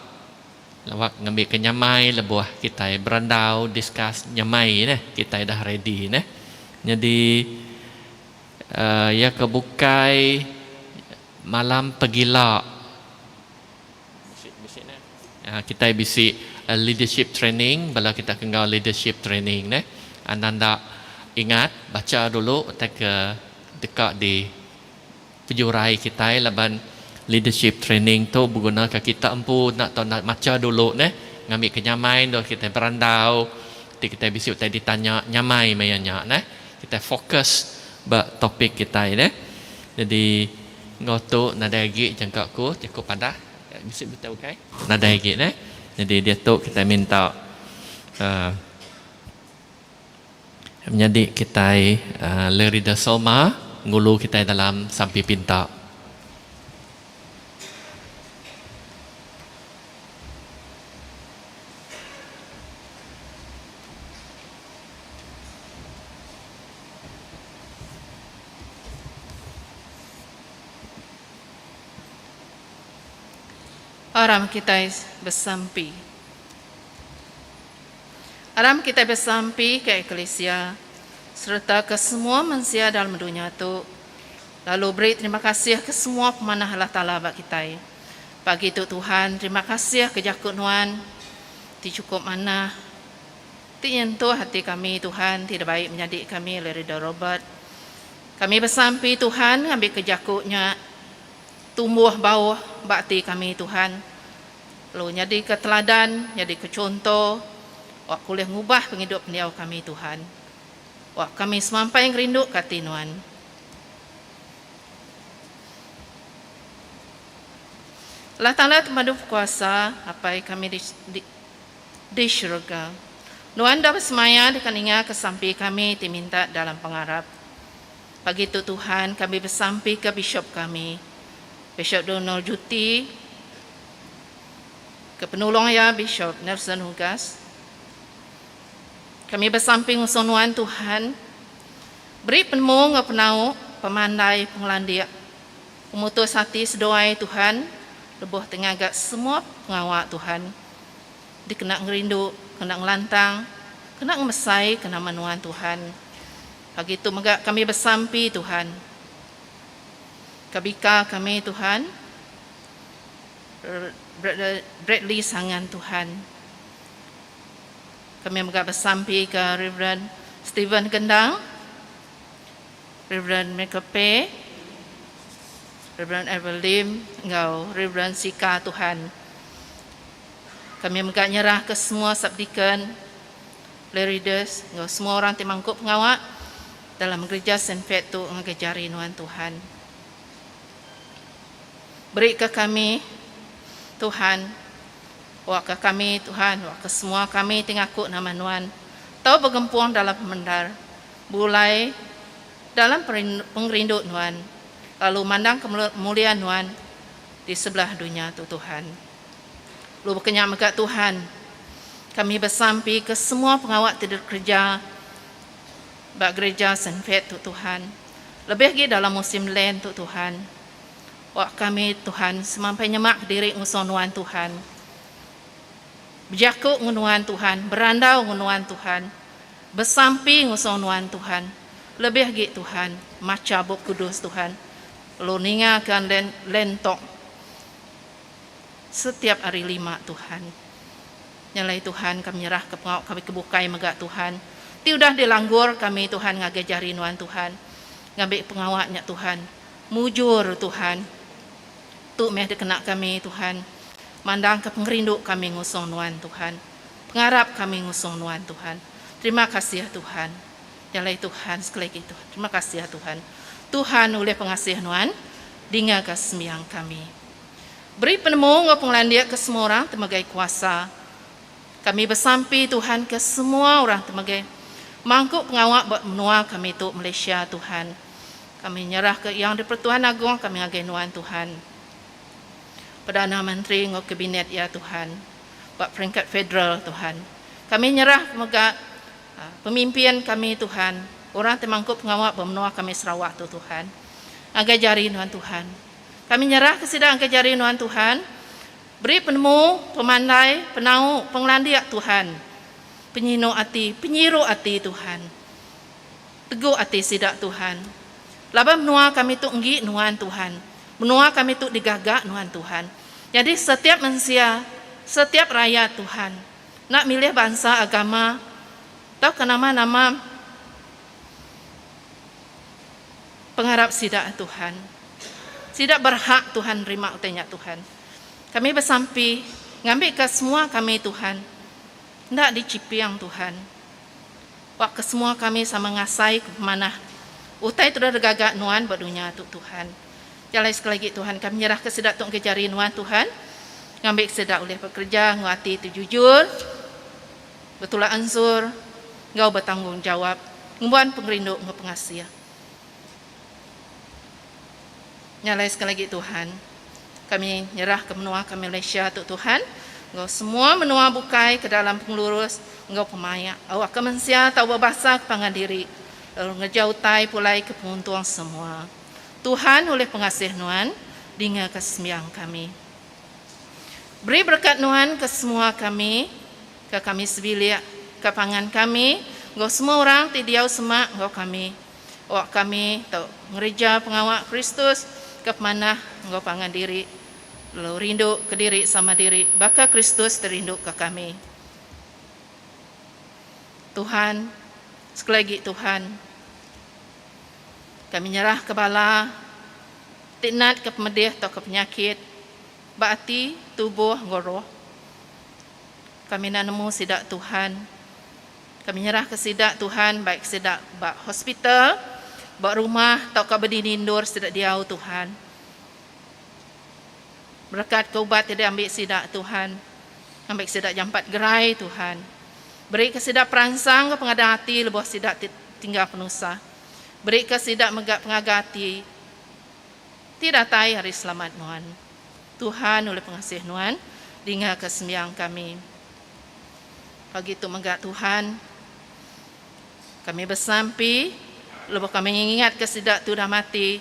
Lawak ngambika nyamai lebuh kitai berandau, discuss, nyamai neh kitai dah ready neh. Nyadi iya ke bukai malam pegila kitai bisi leadership training bala kita ke enggau leadership training neh. Anang enda ingat bacha dulu utai ke deka di. Pejurai kitai laban leadership training tu beguna ka kita empu enda tau enda macha dulu neh ngambi ke nyamai endur kitai berandau ti kitai bisi utai ditanya nyamai maya nya neh kitai fokus ba topik kitai neh jadi enggau tu nadai agi jangka aku jaku padah bisi bete ukai nadai agi neh jadi diatu kitai minta uhh. Menyadi kitai Le Reader Selma ngulu kitai dalam sampi pinta. Aram kitai besampi. Aram kitai besampi ke eklisia sereta ke semua mensia dalam dunya tu, lalu beri terima kasih ke semua pemanah Allah Taala ba kitai. Pagi tu Tuhan, terima kasih ke jaku Nuan ti chukup manah, ti nyentuh ati kami Tuhan ti dibai menyadi kami oleh Reader Robert. Kami besampi Tuhan ngambika jaku nya tumbuh bauh ba ati kami Tuhan. lalu nyadika teladan, nyadika chunto wak ulih ngubah pengidup pendiau kami, Tuhan. Wak kami semampai ngerinduka ati Nuan. Allah Taala Temadu Bekuasa, Apai kami di di di syurga. Nuan dau besemaya deka ningaka sampi kami ti minta dalam pengarap. Pagi tu Tuhan kami besampika Bishop kami, Bishop Donald Juti, ke penulung iya Bishop Nelson Hugas. Kami besampi ngusung nuan Tuhan beri penemu enggau penau, pemandai, pengelandik, pemutus ati seduai Tuhan lebuh ti ngaga semua pengawa Tuhan dikena ngerindu, kena ngelantang, kena ngemesai ke nama nuan Tuhan. Pagi tu mega kami besampi Tuhan. Ka bika kami Tuhan Brother Bradley Sangan Tuhan. Kami mega besampi ke Reverend Stephen Gendang. Reverend Michael Pay. Reverend Ever Lim enggau Reverend Sika Tuhan. Kami mega nyerah ke semua subdeacon Lerides enggau semua orang ti mangku pengawa dalam gerija Senfet tu ngagai jari nuan Tuhan. Berika kami Tuhan waka kami Tuhan waka semua kami ti ngaku nama nuan tau begempung dalam pemendar bulai dalam pengerindu nuan lalu mandangka mulia nuan di sebelah dunya tu Tuhan. Lu baka nya mega Tuhan, kami besampi ke semua pengawa ti dikereja ba gereja Saint Fate tu Tuhan, lebih agi dalam musim Lent tu Tuhan. Awak kami Tuhan semampai nyema kediri ngusung nuan Tuhan. Bejaku ngen nuan Tuhan, berandau ngen nuan Tuhan, besampi ngusung nuan Tuhan, lebih agi Tuhan macha Bup Kudus Tuhan. Lu ninga ke Lent tok. Setiap ari lima Tuhan. Nya alai Tuhan kami nyerahka pengawa kami ke bukai mega Tuhan. Ti udah dilanggur kami Tuhan ngagai jari nuan Tuhan. Ngambi pengawa nya Tuhan. Mujur Tuhan. Tu meh dikena kami Tuhan. Mandangka pengerindu kami ngusung nuan Tuhan. Pengarap kami ngusung nuan Tuhan. Terima kasih Tuhan. Nya alai Tuhan sekali lagi Tuhan. Terima kasih Tuhan. Tuhan ulih pengasih nuan. Dingaga sembiang kami. Beri penemu enggau pengelandik ke semua orang temegai kuasa. Kami besampi Tuhan ke semua orang temegai mangku pengawa ba menua kami tu Malaysia Tuhan. Kami nyerah ke Yang di-Pertuan Agong kami ngagai nuan Tuhan. Perdana Menteri enggau kabinet iya Tuhan ba peringkat federal Tuhan. Kami nyerah mega ah, pemimpin kami Tuhan, orang ti mangku pengawa ba menua kami Sarawak tu Tuhan. Ngagai jari nuan Tuhan. Kami nyerahka sida engka jari nuan Tuhan. Beri penemu, pemandai, penau, pengelandik Tuhan. Penyinu ati, penyiru ati Tuhan. Teguk ati sida Tuhan. Laban menua kami tu enggi nuan Tuhan. Menua kami tu digaga nuan Tuhan. Nyadi setiap mensia, setiap rayat Tuhan. Enda milih bansa agama tauka nama-nama. pengarap sida Tuhan. Sida berhak Tuhan nerima utai nya Tuhan. Kami besampi ngambika semua kami Tuhan enda dichiping Tuhan. Ba kesemua kami sama ngasai ke pemanah utai tu dah digaga nuan ba dunya tu Tuhan. Jalai sekali lagi Tuhan kami nyerahka sida tu engka jari nuan Tuhan. Ngambika sida ulih bekereja enggau ati tu jujur. Betulak anjur enggau betanggungjawap ngembuan pengerindu enggau pengasih. Nyalai sekali agi Tuhan. Kami nyerahka menua ke Malaysia tu Tuhan enggau semua menua bukai ke dalam pengelurus enggau pemaik awak ke mensia tau bebasa ke pangan diri lalu ngereja utai pulai ke penguntung semua. Tuhan ulih pengasih nuan dinga ke sembiang kami. Beri berekat Nuan ke semua kami, ke kami sebilik, ke pangan kami, enggau semua orang ti diau semak enggau kami. Awak kami tau ngereja pengawa Kristus ke pemanah enggau pangan diri, lalu rindu kediri sama diri baka Kristus ti rindu ke kami. Tuhan, sekali agi Tuhan. Kami nyerahka bala ti natka pemedih tauka penyakit ba ati, tubuh enggau roh. Kami enda nemu sida Tuhan. Kami nyerahka sida Tuhan baik sida ba hospital, ba rumah tauka bedini endur sida diau Tuhan. Berekat ke ubat ti di ambi sida Tuhan. Ngambi ke sida jampat gerai Tuhan. Beri ke sida peransang ke pengadah ati lebuh sida ti tinggal penusah. Beri ke sida mega pengaga ati ti datai hari selamat nuan. Tuhan ulih pengasih nuan dinga ke sembiang kami. Pagi tu mega Tuhan kami besampi lebuh kami ngingat ke sida tu dah mati.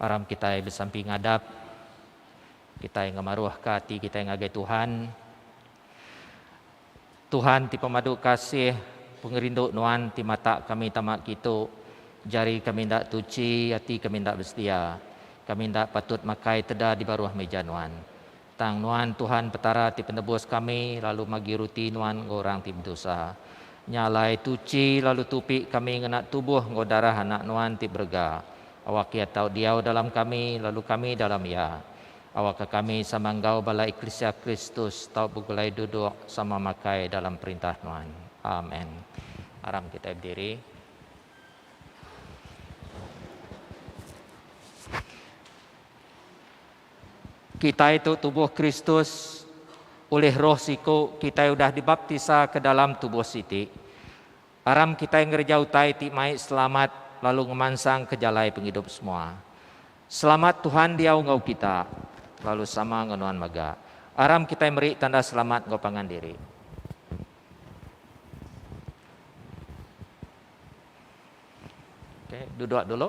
Aram kitai besampi ngadap, kitai ngemaruhka ati kitai ngagai Tuhan. Tuhan ti pemadu kasih, pengerindu nuan ti matak kami tama kitu. Jari kami enda tuchi, ati kami enda besedia. Kami enda patut makai teda di baruh meja nuan. Tang Nuan Tuhan Petara ti Penebus kami lalu magi ruti Nuan enggau orang ti bedosa. Nya alai tuchi lalu tupi kami ngena tubuh enggau darah Anak Nuan ti berega. Awak Iya tau diau dalam kami lalu kami dalam Iya. Awakka kami sama enggau bala eklisia Kristus tau begulai duduk sama makai dalam perintah Nuan. Amen. Aram kitai bediri. Kitai tu tubuh Kristus. Ulih Roh siku, kitai udah dibaptisa ke dalam tubuh siti. Aram kitai ngereja utai ti mai selamat lalu ngemansangka jalai pengidup semua. Selamat Tuhan diau enggau kita, lalu sama enggau nuan mega. Aram kitai meri tanda selamat enggau pangan diri. Okey, duduk dulu.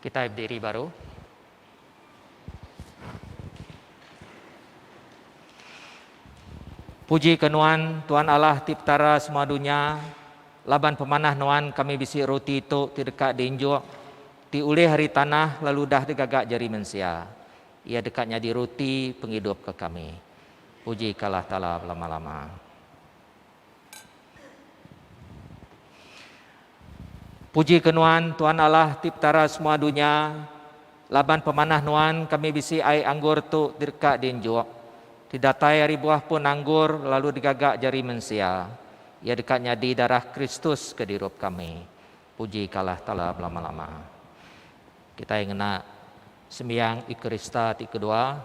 Kitai bediri baru. Puji ke Nuan, Tuan Allah ti Petara semua dunya, laban pemanah Nuan kami bisi roti tu ti deka diinjuk, ti ulih ari tanah lalu udah digaga jari mensia. Iya deka nyadi roti pengidup ke kami. Puji ke Allah Taala belama-lama. Puji ke nuan, Tuan Allah ti petara semua dunya, laban pemanah nuan kami bisi ai anggur tu direka dienjuk, ti datai ari buah pun anggur lalu digaga jari mensia, iya deka nyadi darah Kristus ke dirup kami. Puji ka Allah Taala belama-lama. Kitai ngena sembiang Eukarista ti kedua.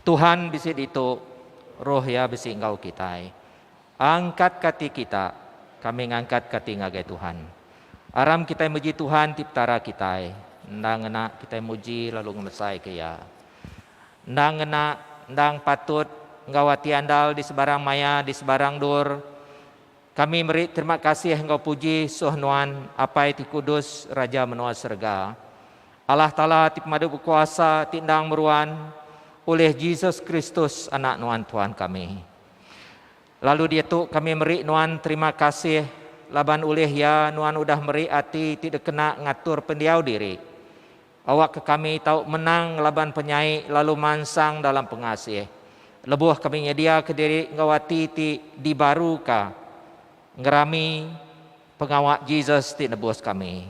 Tuhan bisi ditu, Roh Iya bisi enggau kitai. Angkat ka ati kita, kami ngangkat ka ati ngagai Tuhan. Aram kitai muji Tuhan ti Petara kitai, enda ngena kitai muji lalu ngemesai ka Iya. Endang ngena, endang patut enggau ati andal di sebarang maya, di sebarang endur, Kami meri terima kasih enggau puji suh Nuan, Apai ti kudus, Raja menua serega. Allah Taala ti pemadu bekuasa ti endang meruan, ulih Jesus Kristus, Anak Nuan Tuhan kami. Lalu diatu kami meri Nuan terima kasih laban ulih Iya Nuan udah meri ati ti dekena ngatur pendiau diri Awakka kami tau menang ngelaban penyai lalu mansang dalam pengasih, lebuh kami nyediaka diri enggau ati ti dibaruka ngerami pengawa Jesus ti nebus kami.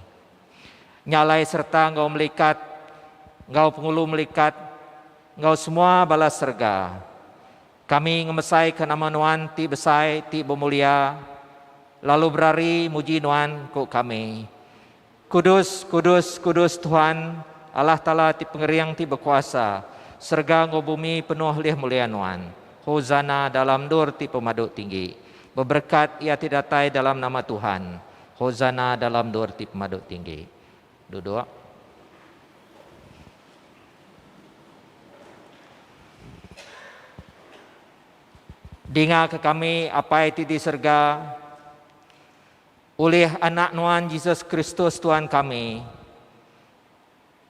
Nya alai sereta enggau melikat, enggau pengulu melikat, enggau semua bala serega, kami ngemesaika nama Nuan ti besai ti bemulia lalu berari muji Nuan, ku kami. Kudus, kudus, kudus Tuhan, Allah Taala ti Pengering ti Bekuasa, serega enggau bumi penuh lih mulia Nuan. Hosana dalam endur ti pemadu tinggi. Beberekat iya ti datai dalam nama Tuhan. Hosana dalam endur ti pemadu tinggi. Duduk. Dingaka kami, Apai ti di serega. Ulih Anak Nuan Jesus Kristus Tuan kami,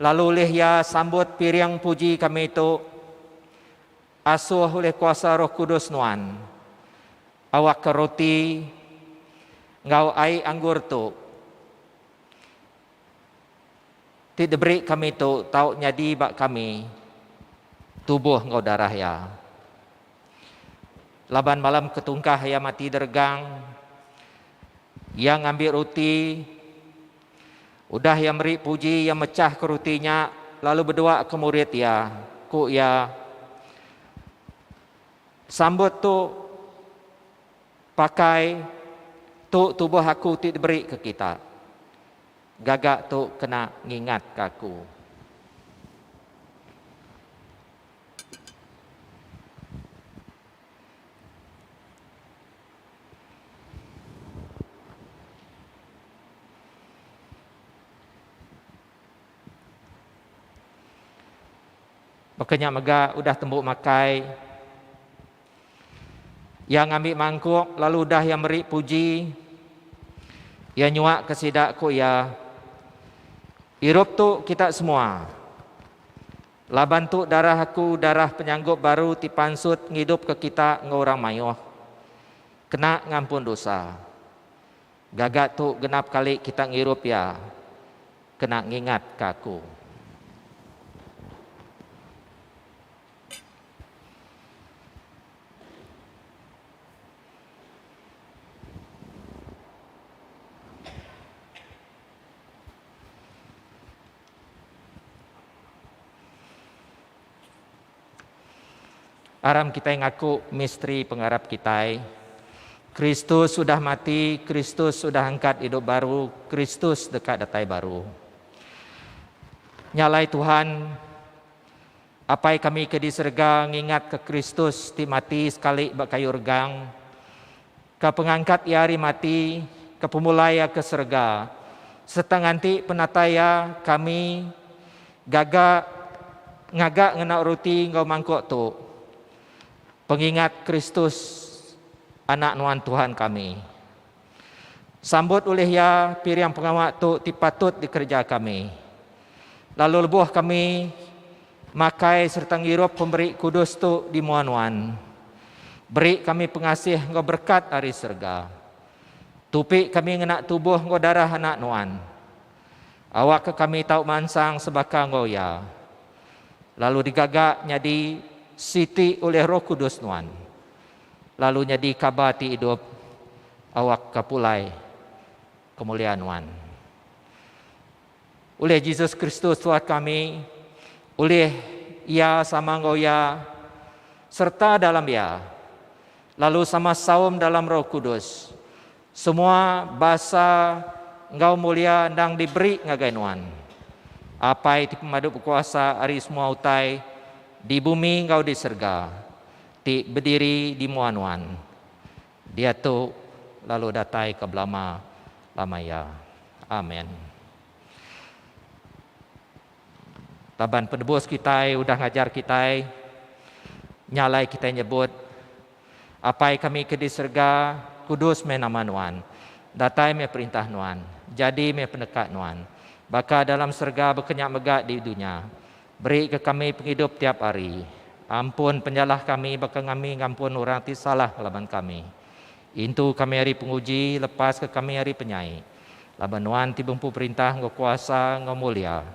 lalu ulih Iya sambut piring puji kami tu, asuh ulih kuasa Roh Kudus Nuan, awakka roti enggau ai anggur tu ti diberi kami tu tau nyadi ba kami tubuh enggau darah Iya. Laban malam ke tungkah iya mati deregang, iya ngambi ruti. Udah iya meri puji, iya mechahka ruti nya lalu bedua ke murid iya. Ku iya, Sambut tu pakai tu tubuh aku ti diberi ke kita. Gaga tu kena ngingatka aku. Baka nya mega udah tembu makai ia ngambi mangkuk lalu udah ia meri puji ia nyuak ke sida ku ia irup tu kita semua Laban tu darah aku darah penyanggup baru ti pansut ngidupka kita enggau orang mayuh, kena ngampun dosa. Gaga tu genap kali kita ngirup iya, kena ngingatka aku. Aram kitai ngaku misteri pengarap kitai. Kristus sudah mati, Kristus sudah angkat idup baru, Kristus deka datai baru. Nya alai Tuhan Apai kami ke di serega ngingatka Kristus ti mati sekali ba kayu regang, ke pengangkat Iya ari mati, ke pemulai Iya ke serega, sereta nganti penatai Iya kami gaga ngaga ngena ruti enggau mangkuk tu, pengingat Kristus, Anak Nuan Tuhan kami. Sambut ulih iya piring pengawa tu ti patut dikereja kami. Lalu lebuh kami makai sereta ngirup pemeri kudus tu di mua nuan, beri kami pengasih enggau berekat ari serega. Tupi kami ngena tubuh enggau darah Anak nuan. Awakka kami tau mansang sebaka enggau iya, lalu digaga nyadi siti ulih Roh Kudus nuan. Lalu nyadi kaba ti idup awak ka pulai kemuliaan nuan. Ulih Jesus Kristus Tuhan kami, ulih Iya sama enggau Iya, serta dalam Iya, lalu sama saum dalam Roh Kudus, Semua basa enggau mulia endang diberi ngagai Nuan. Apai ti pemadu bekuasa ari semua utai di bumi enggau di serega ti bediri di mua Nuan. Diatu lalu datai ke belama lama iya. Amen. Laban penebus kitai udah ngajar kitai, nya alai kitai nyebut. Apai kami ke di serega, kudus meh nama Nuan. Datai meh perintah Nuan. Jadi meh peneka Nuan. Baka dalam serega baka nya mega di dunya. Beri ke kami pengidup tiap hari. Ampun penyalah kami baka ngami ngampun orang ti salah ngelaban kami. Intu kami ari penguji, lepas ke kami ari penyai. Laban Nuan ti bempu perintah enggau kuasa enggau mulia.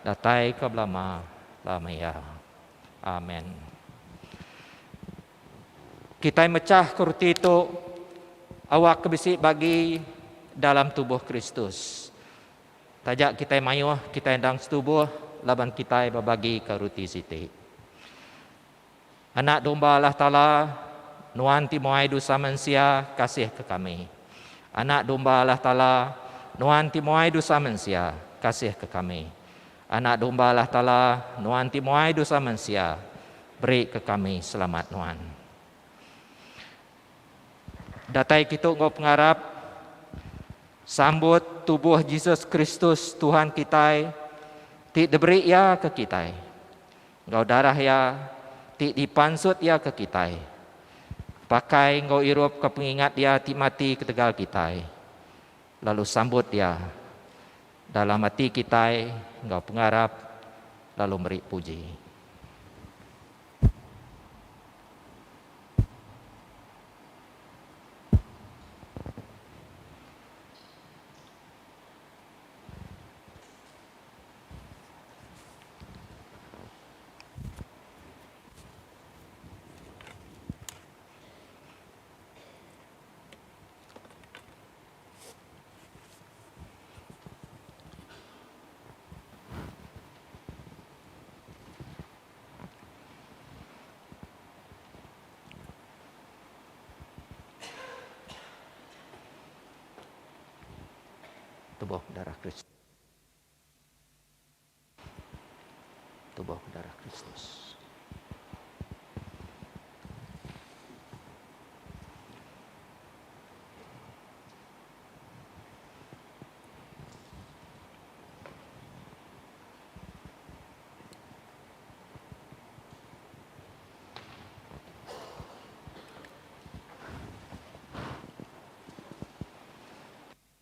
Datai ke belama lama iya. Amen. Kitai mechah ke roti tu awak ke bisi bagi dalam tubuh Kristus. Taja kitai mayuh, kitai endang setubuh laban kitai bebagi ke roti siti. Anak domba Allah Taala, nuan ti muai dosa mensia, kasih ke kami. Anak domba Allah Taala, nuan ti muai dosa mensia, kasih ke kami. Anak Domba Allah Taala, Nuan ti muai dosa mensia, beri ke kami selamat Nuan. Datai kitu enggau pengarap sambut tubuh Jesus Kristus Tuhan kitai ti diberi iya ke kitai. Enggau darah iya ti dipansut iya ke kitai. Pakai enggau irup ke pengingat iya ti mati ketegal kitai. Lalu sambut iya Dalam ati kitai enggau pengarap lalu meri puji. Tubuh Darah Kristus. Tubuh Darah Kristus.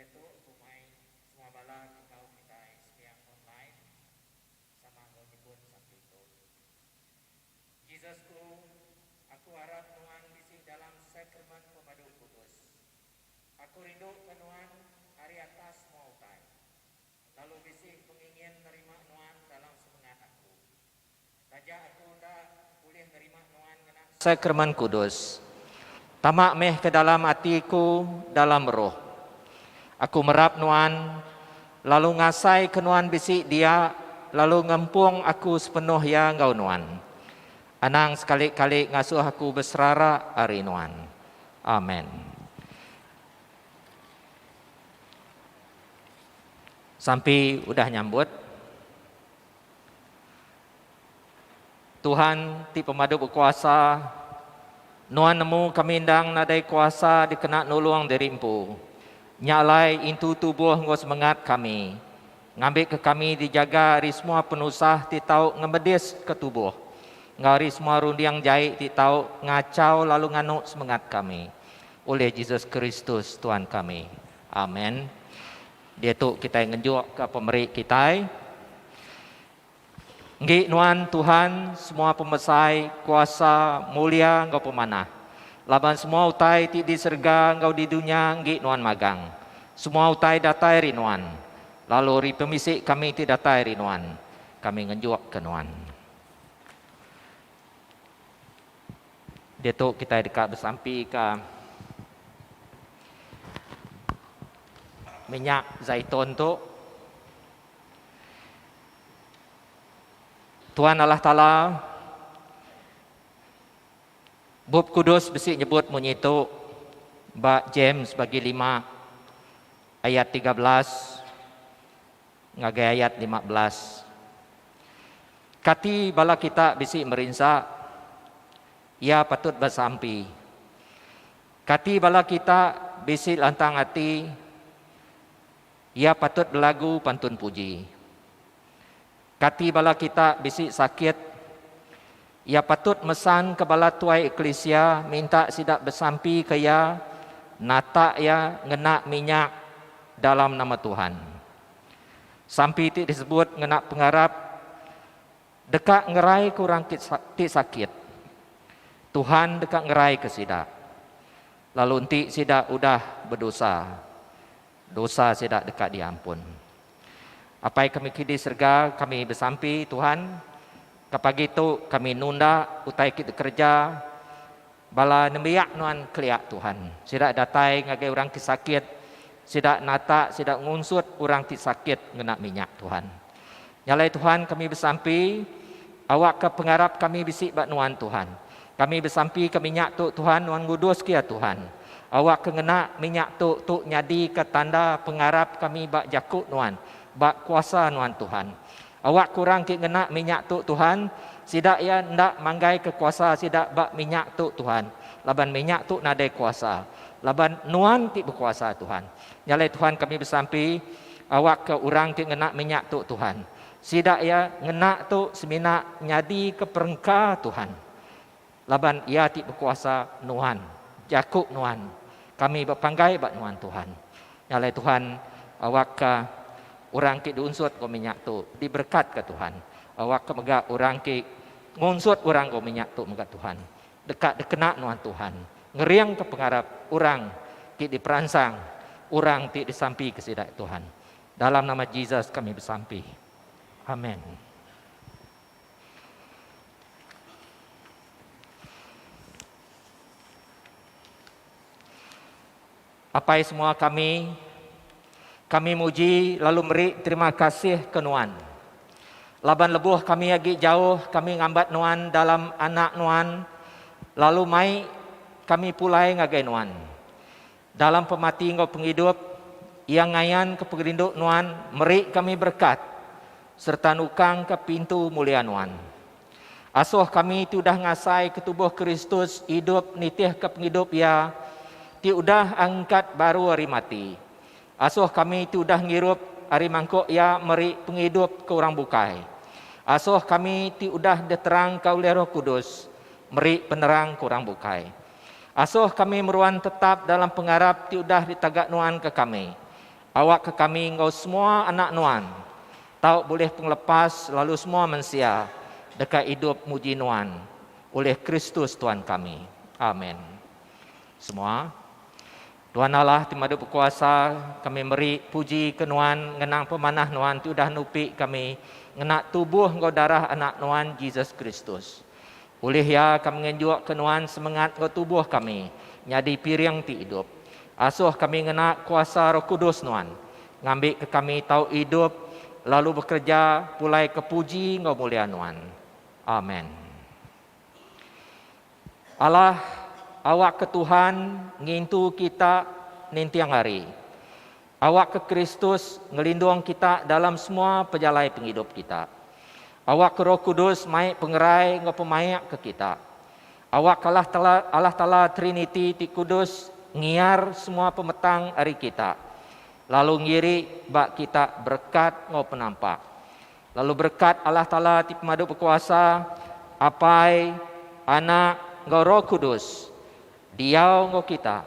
Diatu ku mai semua bala dikau kitai sembiang online sama enggau nyebut sapi tu. Jesus ku, aku arap nuan bisi dalam sakrament pemadu kudus. Aku rinduka nuan ari atas semua utai. Lalu bisi pengingin nerima nuan dalam sepengat aku. Taja aku enda ulih nerima nuan ngena Sakramen Kudus. Tama meh ke dalam ati ku dalam roh. Aku merap nuan, lalu ngasai ke nuan bisi dia lalu ngempung aku sepenuh iya enggau nuan. Anang sekali-kali ngasuh aku beserara ari nuan. Amen. Sampi udah nyambut. Tuhan ti pemadu bekuasa, nuan nemu kami endang nadai kuasa dikena nulung diri empu. Nya alai intu tubuh enggau semengat kami, ngambika kami dijaga ari semua penusah ti tau ngemediska tubuh enggau ari semua runding jai ti tau ngachau lalu nganu semengat kami. Ulih Jesus Kristus Tuan kami. Amen. Diatu kitai ngenjukka pemeri kitai. Enggi nuan Tuhan semua pemesai, kuasa, mulia enggau pemanah. Laban semua utai ti di serega enggau di dunya enggi nuan magang. Semua utai datai ari nuan. Lalu ari pemisi kami ti datai ari nuan. Kami ngenjukka nuan. Diatu kitai deka besampika minyak zaitun tu. Tuhan Allah Taala Bup Kudus bisi nyebut munyi tu ba James bagi lima ayat tiga belas. Ngagai ayat lima belas. Kati bala kita bisi merinsa? Iya patut besampi. Kati bala kita bisi lantang ati? Iya patut belagu pantun puji. Kati bala kita bisi sakit? Iya patut mesanka bala tuai eklisia minta sida besampika iya natak iya ngena minyak dalam nama Tuhan. Sampi ti disebut ngena pengarap deka ngeraika orang ti sakit. Tuhan deka ngeraika sida lalu enti sida udah bedosa. Dosa sida deka diampun. Apai kami ti di serega, kami besampi, Tuhan, ka pagi tu kami nunda utai ti dikereja bala nembiak nuan kelia, Tuhan. Sida datai ngagai orang ti sakit, sida natak, sida ngunsut orang ti sakit ngena minyak, Tuhan. Nyalai Tuhan kami besampi awakka pengarap kami bisi ba Nuan Tuhan. Kami besampi ke minyak tu Tuhan nuan nguduske iya Tuhan. Awakka ngena minyak tu tu nyadika tanda pengarap kami ba jaku Nuan, ba kuasa Nuan Tuhan. Awakka orang ti ngena minyak tu Tuhan, sida iya enda manggaika kuasa sida ba minyak tu Tuhan, laban minyak tu nadai kuasa, laban Nuan ti bekuasa Tuhan. Nya alai Tuhan kami besampi awakka orang ti ngena minyak tu Tuhan. Sida iya ngena tu semina nyadika perengka Tuhan. Laban Iya ti bekuasa nuan, jaku nuan. Kami bepanggai ba nuan Tuhan. Nya alai Tuhan awakka orang ti diunsut enggau minyak tu diberekatka Tuhan. Awakka mega orang ti ngunsut orang enggau minyak tu mega Tuhan. Deka dikena nuan Tuhan ngeringka pengarap orang ti diperansang orang ti disampika sida, Tuhan. Dalam nama Jesus kami besampi. Amen. Apai semua kami, kami muji lalu meri terima kasih ke Nuan. Laban lebuh kami agi jauh kami ngambat Nuan dalam Anak Nuan lalu mai kami pulai ngagai Nuan. Dalam pemati enggau pengidup, Iya ngayanka pengerindu Nuan meri kami berekat sereta nukangka pintu mulia Nuan. Asoh kami ti udah ngasaika tubuh Kristus idup nitihka pengidup Iya ti udah angkat baru ari mati. Asoh kami ti udah ngirup ari mangkuk Iya meri pengidup ke orang bukai. Asoh kami ti udah diterangka ulih Roh Kudus meri penerang ke orang bukai. Asoh kami meruan tetap dalam pengarap ti udah ditaga nuan ke kami. Awakka kami enggau semua anak Nuan tau bulih pengelepas lalu semua mensia deka idup muji Nuan ulih Kristus Tuan kami. Amen. Semua. Tuan Allah ti madu bekuasa, kami meri puji ke Nuan ngenang pemanah Nuan ti udah nupi kami ngena tubuh enggau darah Anak Nuan, Jesus Kristus. Ulih iya ka mengenjukka nuan semengat enggau tubuh kami nyadi piring ti idup. Asuh kami ngena kuasa Roh Kudus nuan, ngambika kami tau idup lalu bekereja pulai ke puji enggau mulia nuan. Amen. Alah, awakka Tuhan ngintu kita ninting hari. Awakka Kristus ngelindung kita dalam semua pejalai pengidup kita. Awakka Roh Kudus mai pengerai enggau pemaik ke kita. Awakka Allah Taala, Allah Taala Triniti ti kudus ngiar semua pemetang ari kita lalu ngiri ba kita berekat enggau penampak. Lalu berekat Allah Taala ti pemadu bekuasa, Apai, Anak, enggau Roh Kudus diau enggau kita.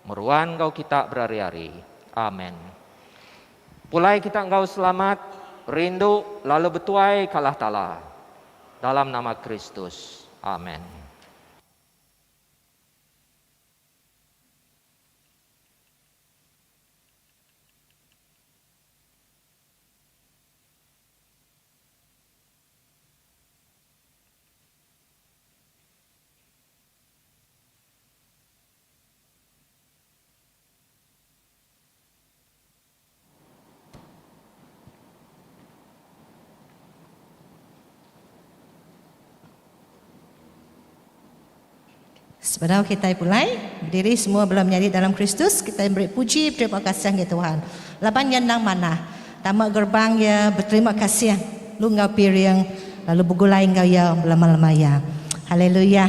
Meruan enggau kita berari-ari. Amen. Pulai kita enggau selamat, rindu, lalu betuai ka Allah Taala. Dalam nama Kristus. Amen. Sebedau kitai pulai bediri semua bela menyadi dalam Kristus, kitai meri puji beterima kasih enggau Tuhan laban Iya endang manah tama gerbang Iya beterima kasih lu enggau piring lalu begulai enggau Iya belama-lama iya. Haleluya!